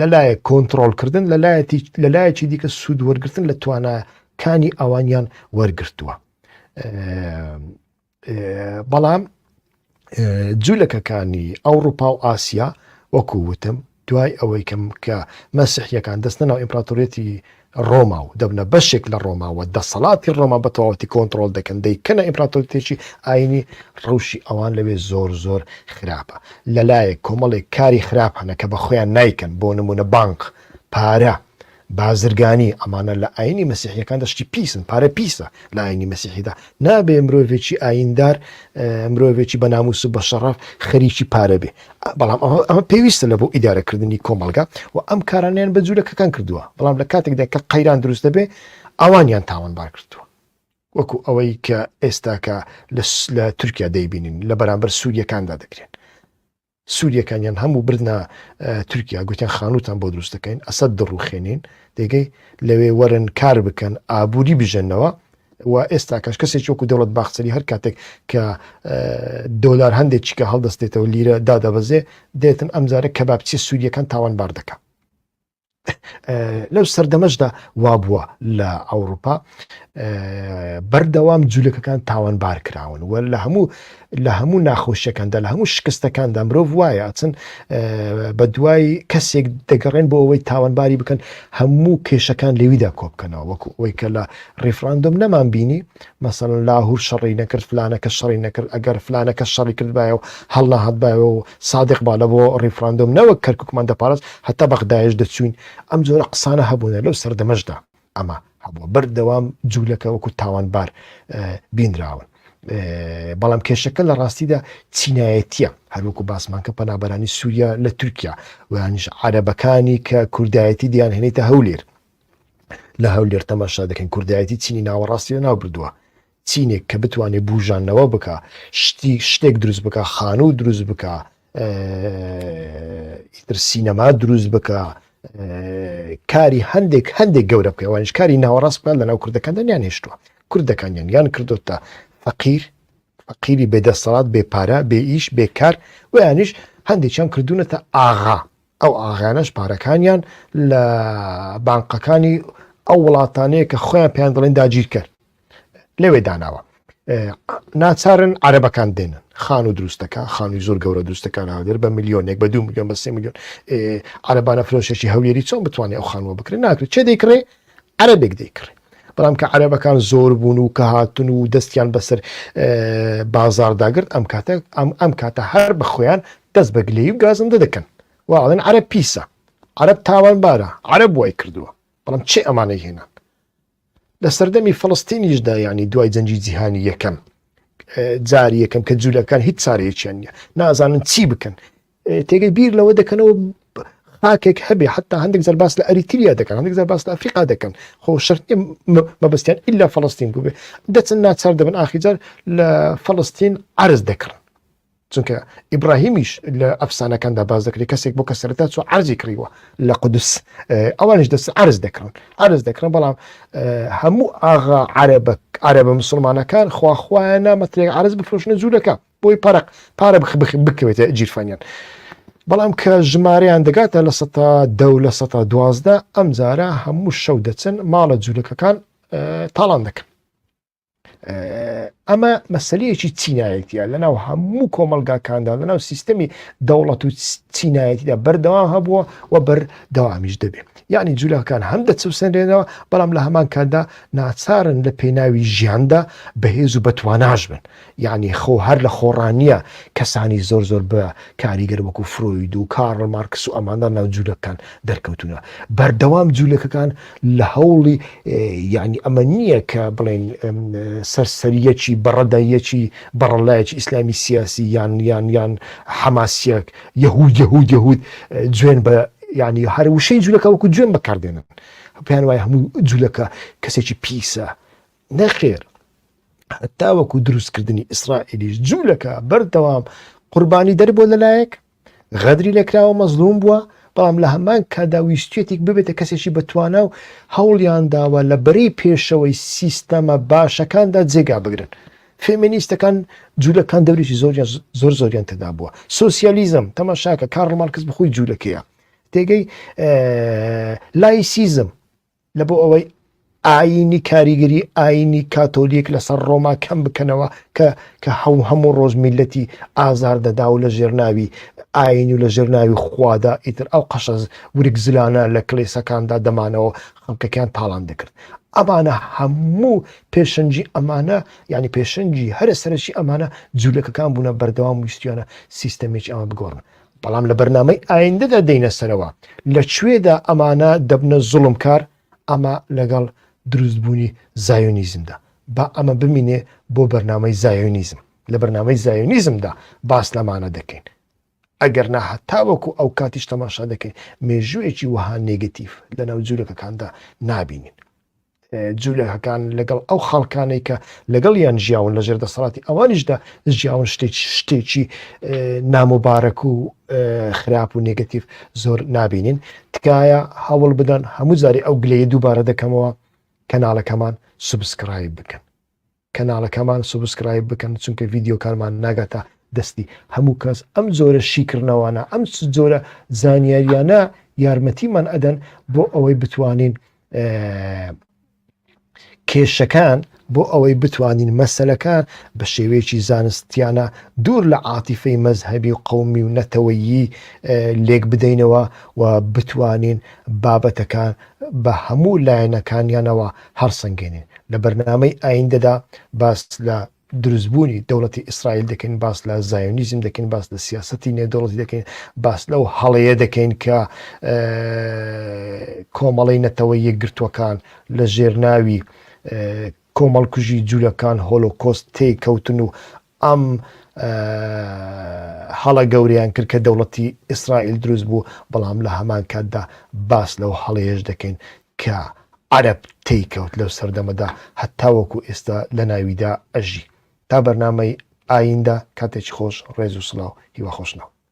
لەلایەک کۆنترۆڵکردن لەلایەکی دیکە سوود وەرگتن لە تواناکانی ئەوانیان وەرگتووە بەڵام جوولەکەکانی ئەوروپا و ئاسیا وەکو وتم دوای ئەوەی کەم کە مەسیحیەکان دەستنەوە ئیمپراتوریەتی ڕۆما و دەبنە بەشێک لە ڕۆما و دەسەڵاتی ڕۆما بە تەواوەتی کۆنتڕۆڵ دەکەن، دەیکەنە ئیمپراتۆریەتێکی ئایینی، ڕەوشی ئەوان لەوێ زۆر زۆر خراپە، لەلایەک کۆمەڵێک کاری خراپ هەنە کە بەخۆیان نایکەن، بۆ نموونە بانق، پارە، بازرگانی، ئەمانە لە ئایینی مەسیحییەکاندا شتی پیسن، پارە پیسە لە ئایینی مەسیحیدا، نابێ مرۆڤێکی ئاییندار، مرۆڤێکی بە نامووس و بە شەڕەف خەریکی پارە بێ، بەڵام ئەمە پێویستە لە بۆ ئیدارەکردنی کۆمەلگا و ئەم کارانیان بە جوورەکەکان کردووە بەڵام لە کاتێکدا کە قەیران دروست دەبێ ئەوانیان تاوانبار کردووە وەکو ئەوەی کە ئێستاکە لە تورکیا دەیبینین لە بەرامبەر سووریەکاندا دەکرێن سووریەکانیان هەموو بردە تورکیا گوتیان خانوتان بۆ دروست دەکەین ئەسد دڕوخێنین دەگەی لەوێ وەرن کار بکەن ئابووری بژێنەوە و ئێستاکەش کەسێکی وەکو دەوڵەت باخچەلی هەر کاتێک کە دۆلار هەندێک چیکە هەڵدەستێتەوە لیرە دادەبەزێ دێتن ئەمجارە کە باپچی سووریەکان تاوان بار دەکە لەو سەردەمەشدا وا بووە لە ئەوروپا بەردەوام جوولەکەکان تاوان بار کراون و لە هەموو لە هەموو ناخۆشیەکاندا لە هەموو شکستەکاندا مرۆڤ وایە ئەچن بە دوای کەسێک دەگەڕێن بۆ ئەوەی تاوانباری بکەن هەموو کێشەکان لەویدا کۆبکەنەوە وەکو ئەوی کە لە ڕیفراندۆم نەمان بینی مەسەن لاهور شەڕی نەکرد فلانەکە شەڕی نەکرد ئەگەر فلانەکە شەڕی کردبایە و هەڵناهاتبایەوە و سادق با لە بۆ ڕیفراندۆم نەوەک کەرککمان دەپارست هەتا بەغدایش دەچوین ئەم جۆرە قسانە هەبوونە لەو سەردەمەشدا ئەمە هەبووە بەردەوام جوولەکە وەکو تاوانبار بینراون. بەڵام کێشەکە لە ڕاستیدا چینایەتە هەروکو باسمان کە پەنابەرانی سووریا لە تورکیا ویانش عربەکانی کە کوردایەتی دیان هێنێتە هەولێر لە هەولێر تەماشا دەکەن کوردایەتی چینی ناوەڕاستی لە ناو بردووە چینێک کە بتوانێت بوژانەوە بکا شتی شتێک دروست بکە خانوو دروست بکە ئیتر سینەما دروست بکە کاری هەندێک هەندێک گەورە بکەوانش کاری ناوەڕاست بکات لە ناو کوردەکان دەنیان هێشتووە کوردەکانیان یان کردوتە فەقیر فەقیری بێدەسەڵات بێ پارە بێ ئیش بێکار ویانش هەندێکیان کردوونەتە ئاغا ئەو ئاغانەش پارەکانیان لە بانقەکانی ئەو وڵاتانەیە کە خۆیان پێیان دەڵێن داگیرکەر لەوێ داناوە ناچارن عربەکان دێنن خان و دروستەکە خانووی زۆر گەورە دروستەکان هاودێر بە میلیۆنێک بە دو میلیۆن بە سێ میلیۆن عربانە فرۆشێکی هەولێری چۆن بتوانێت ئەو خانووە بکرێت ناکرێت چێ دەیکڕێ عربێک دەیکڕێ بەڵام کە عربەکان زۆر بوون و کە هاتن و دەستیان بەسەر بازارداگرت ئەم کاتە ئەم ئەم کاتە هەر بە خۆیان دەست بە گلەی و گازندە دەکەن واڵێن عرب پیسە عرب تاوان بارە عرب وای کردووە بەڵام چێ ئەمانەی هێنان لە سەردەمی فلستینیشدا یعنی دوای جەنجی جیهانی یەکەم جار یەکەم کە جوولەکان هیچ چارەیەکیان نیە نازانن چی بکەن تێگەی بیر لەوە دەکەنەوە خاکێک هەبێ حتا هەندێک زەرباس لە ئەریتریا دەکەن هەندێک زەرباس لە ئەفریقا دەکەن خۆ شەر مەبستیان ئللا فلستین بووێ دەچن ناچار دەبن ئاخیجار لە فلستین عرز دەکڕن چونکە ئیبراهیمیش لە ئەفسانەکاندا باز دەکرێت کەسێک بۆ کە سەرتا چۆ عرضی کڕیوە لە قودس ئەوانش دەست عرز دەکڕن عرز دەکڕن بەڵام هەموو ئاغا عربە عربە مسلمانەکان خواخوایان نامەترێک عرز بفرۆشنە جوولەکە بۆی پەرق پارە بخ بکەوێتە جیرفانیان. بەڵام کە ژمارەیان دەگاتە لە سە دە لە سە دوازدە ئەم جارە هەموو شەو دەچن ماڵە جوولەکەکان تاڵان دەکەن. ئەمە مەسلەیەکی چینایەتە لەناو هەموو کۆمەلگاکاندا لەناو سیستەمی دەوڵەت و چینایەتیدا بەردەوام هەبووە و بەر داوامیش دەبێت یعنی جوولەکان هەم دەچوسێنرێنەوە بەڵام لە هەمان کاتدا ناچارن لە پێناوی ژیاندا بەهێز و بەتواناش بن یەعنی خۆ هەر لە خۆڕا نییە کەسانی زۆر زۆر بە کاریگەر وەکوو فرۆید و کارل مارکس و ئەماندا ناو جوولەکەکان دەرکەوتوونە. بەردەوام جوولەکەکان لە هەوڵی یەعنی ئەمە نییە کە بڵێین سەرسەرییەکی بەڕەدەیەکی بەڕەللایەکی ئیسلامی سیاسی یان یان یان حەماسییەک یەهوود یەهوود یەهوود جوێن بە یەعنی هەر وشەی جوولەکە وەکوو جوێن بەکار دێنن. پێیان وایە هەموو جوولەکە کەسێکی پیسە نەخێر هەتاوەکو دروستکردنی ئیسرائیلیش جوولەکە بەردەوام قوربانی دەربووە لەلایەک غەدری لەکراوە مەزلوم بووە بەڵام لە هەمان کادا ویستێتێک ببێتە کەسێکی بەتوانا و هەوڵیان داوە لە بەرەی پێشەوەی سیستەمە باشەکاندا جێگا بگرن فێمینیستەکان جوولەکان دەورێکی زۆر زۆر زۆریان تێدا بووە سوسیالیزم تەماشاکە کارڵ مارکس بخۆی جوولەکەیە تێگەی لایسیزم لە بۆ ئەوەی ئایینی کاریگەری ئایینی کاتۆلیک لەسەر ڕۆما کەم بکەنەوە کە کە هەوو هەموو ڕۆژ میلەتی ئازار دەدا و لە ژێرناوی ئاین و لە ژێرناوی خوادا ئیتر ئەو قەشەز ورگ زلانە لە کللیسەکاندا دەمانەوە خەڵکەکان تاڵان دەکرد ئەمانە هەموو پێشنجی ئەمانە یعنی پێشنجی هەرە سەرشی ئەمانە جوولەکەکان بوونە بەردەوام ویستیانە سیستەمێکی ئەمە بگۆڕن بەڵام لە بەرنامەی ئایندەدا دێینە سەرەوە لە کوێدا ئەمانە دەبنە زوڵم کار ئەمە لەگەڵ دروستبوونی زایۆنیزمدا با ئەمە بمینێ بۆ بەرنامەی زایۆنیزم لە بەرنامەی زایۆنیزمدا باس لەمانە دەکەین ئەگەر نا هەتاوەکو ئەو کاتیش تەماشا دەکەین مێژوویەکی وەها نێگەتیف لە ناو جوورەکەکاندا نابینین جولەکان لەگەڵ ئەو خەڵکانەی کە لەگەڵیان ژیاون لەژێر دەسەڵاتی ئەوانیشدا ژیاون شتێک شتێکی نامۆبارەک و خراپ و نگەتیف زۆر نبینین تکایە هەوڵ بدەن هەموو جاری ئەو گلەیە دووبارە دەکەمەوە کەناڵەکەمان سوبسکرایب بکەن کەناڵەکەمان سوبسکرایب بکەن چونکە ڤیدیۆکانمان ناگاتە دەستی هەموو کەس ئەم جۆرە شیکردنەوانە ئەم جۆرە زانیاریانە یارمەتیمان ئەدەن بۆ ئەوەی بتوانین کێشەکان بۆ ئەوەی بتوانین مەسلەکان بە شێوەیەکی زانستیانە دوور لە عاتیفەی مەذهبی و قومی و نەتەوەیی لێک بدەینەوە و بتوانین بابەتەکان بە هەموو لایەنەکانیانەوە هەڵسەنگێنین لە بەرنامەی ئایندەدا باس لە دروستبوونی دەوڵەتی ئیسرائیل دەکەین باس لە زایۆنیزم دەکەین باس لە سیاستی نێودەوڵەتی دەکەین باس لەو هەڵەیە دەکەین کە کۆمەڵی نەتەوە یەکگرتووەکان لە ژێرناوی کۆمەڵکوژی جوولەکان هۆلۆکۆست تێککەوتن و ئەم هەڵە گەورەیان کرد کە دەوڵەتی ئیسرائیل دروست بوو، بەڵام لە هەمان کاتدا باس لەو هەڵەیەش دەکەین کە عەرەب تێیکەوت لەو سەردەمەدا هەتاوەکو ئێستا لە ناویدا ئەژی. تا بەرنامەی ئایندە کاتێکی خۆش ڕێز و سڵاو هیواخۆشناو.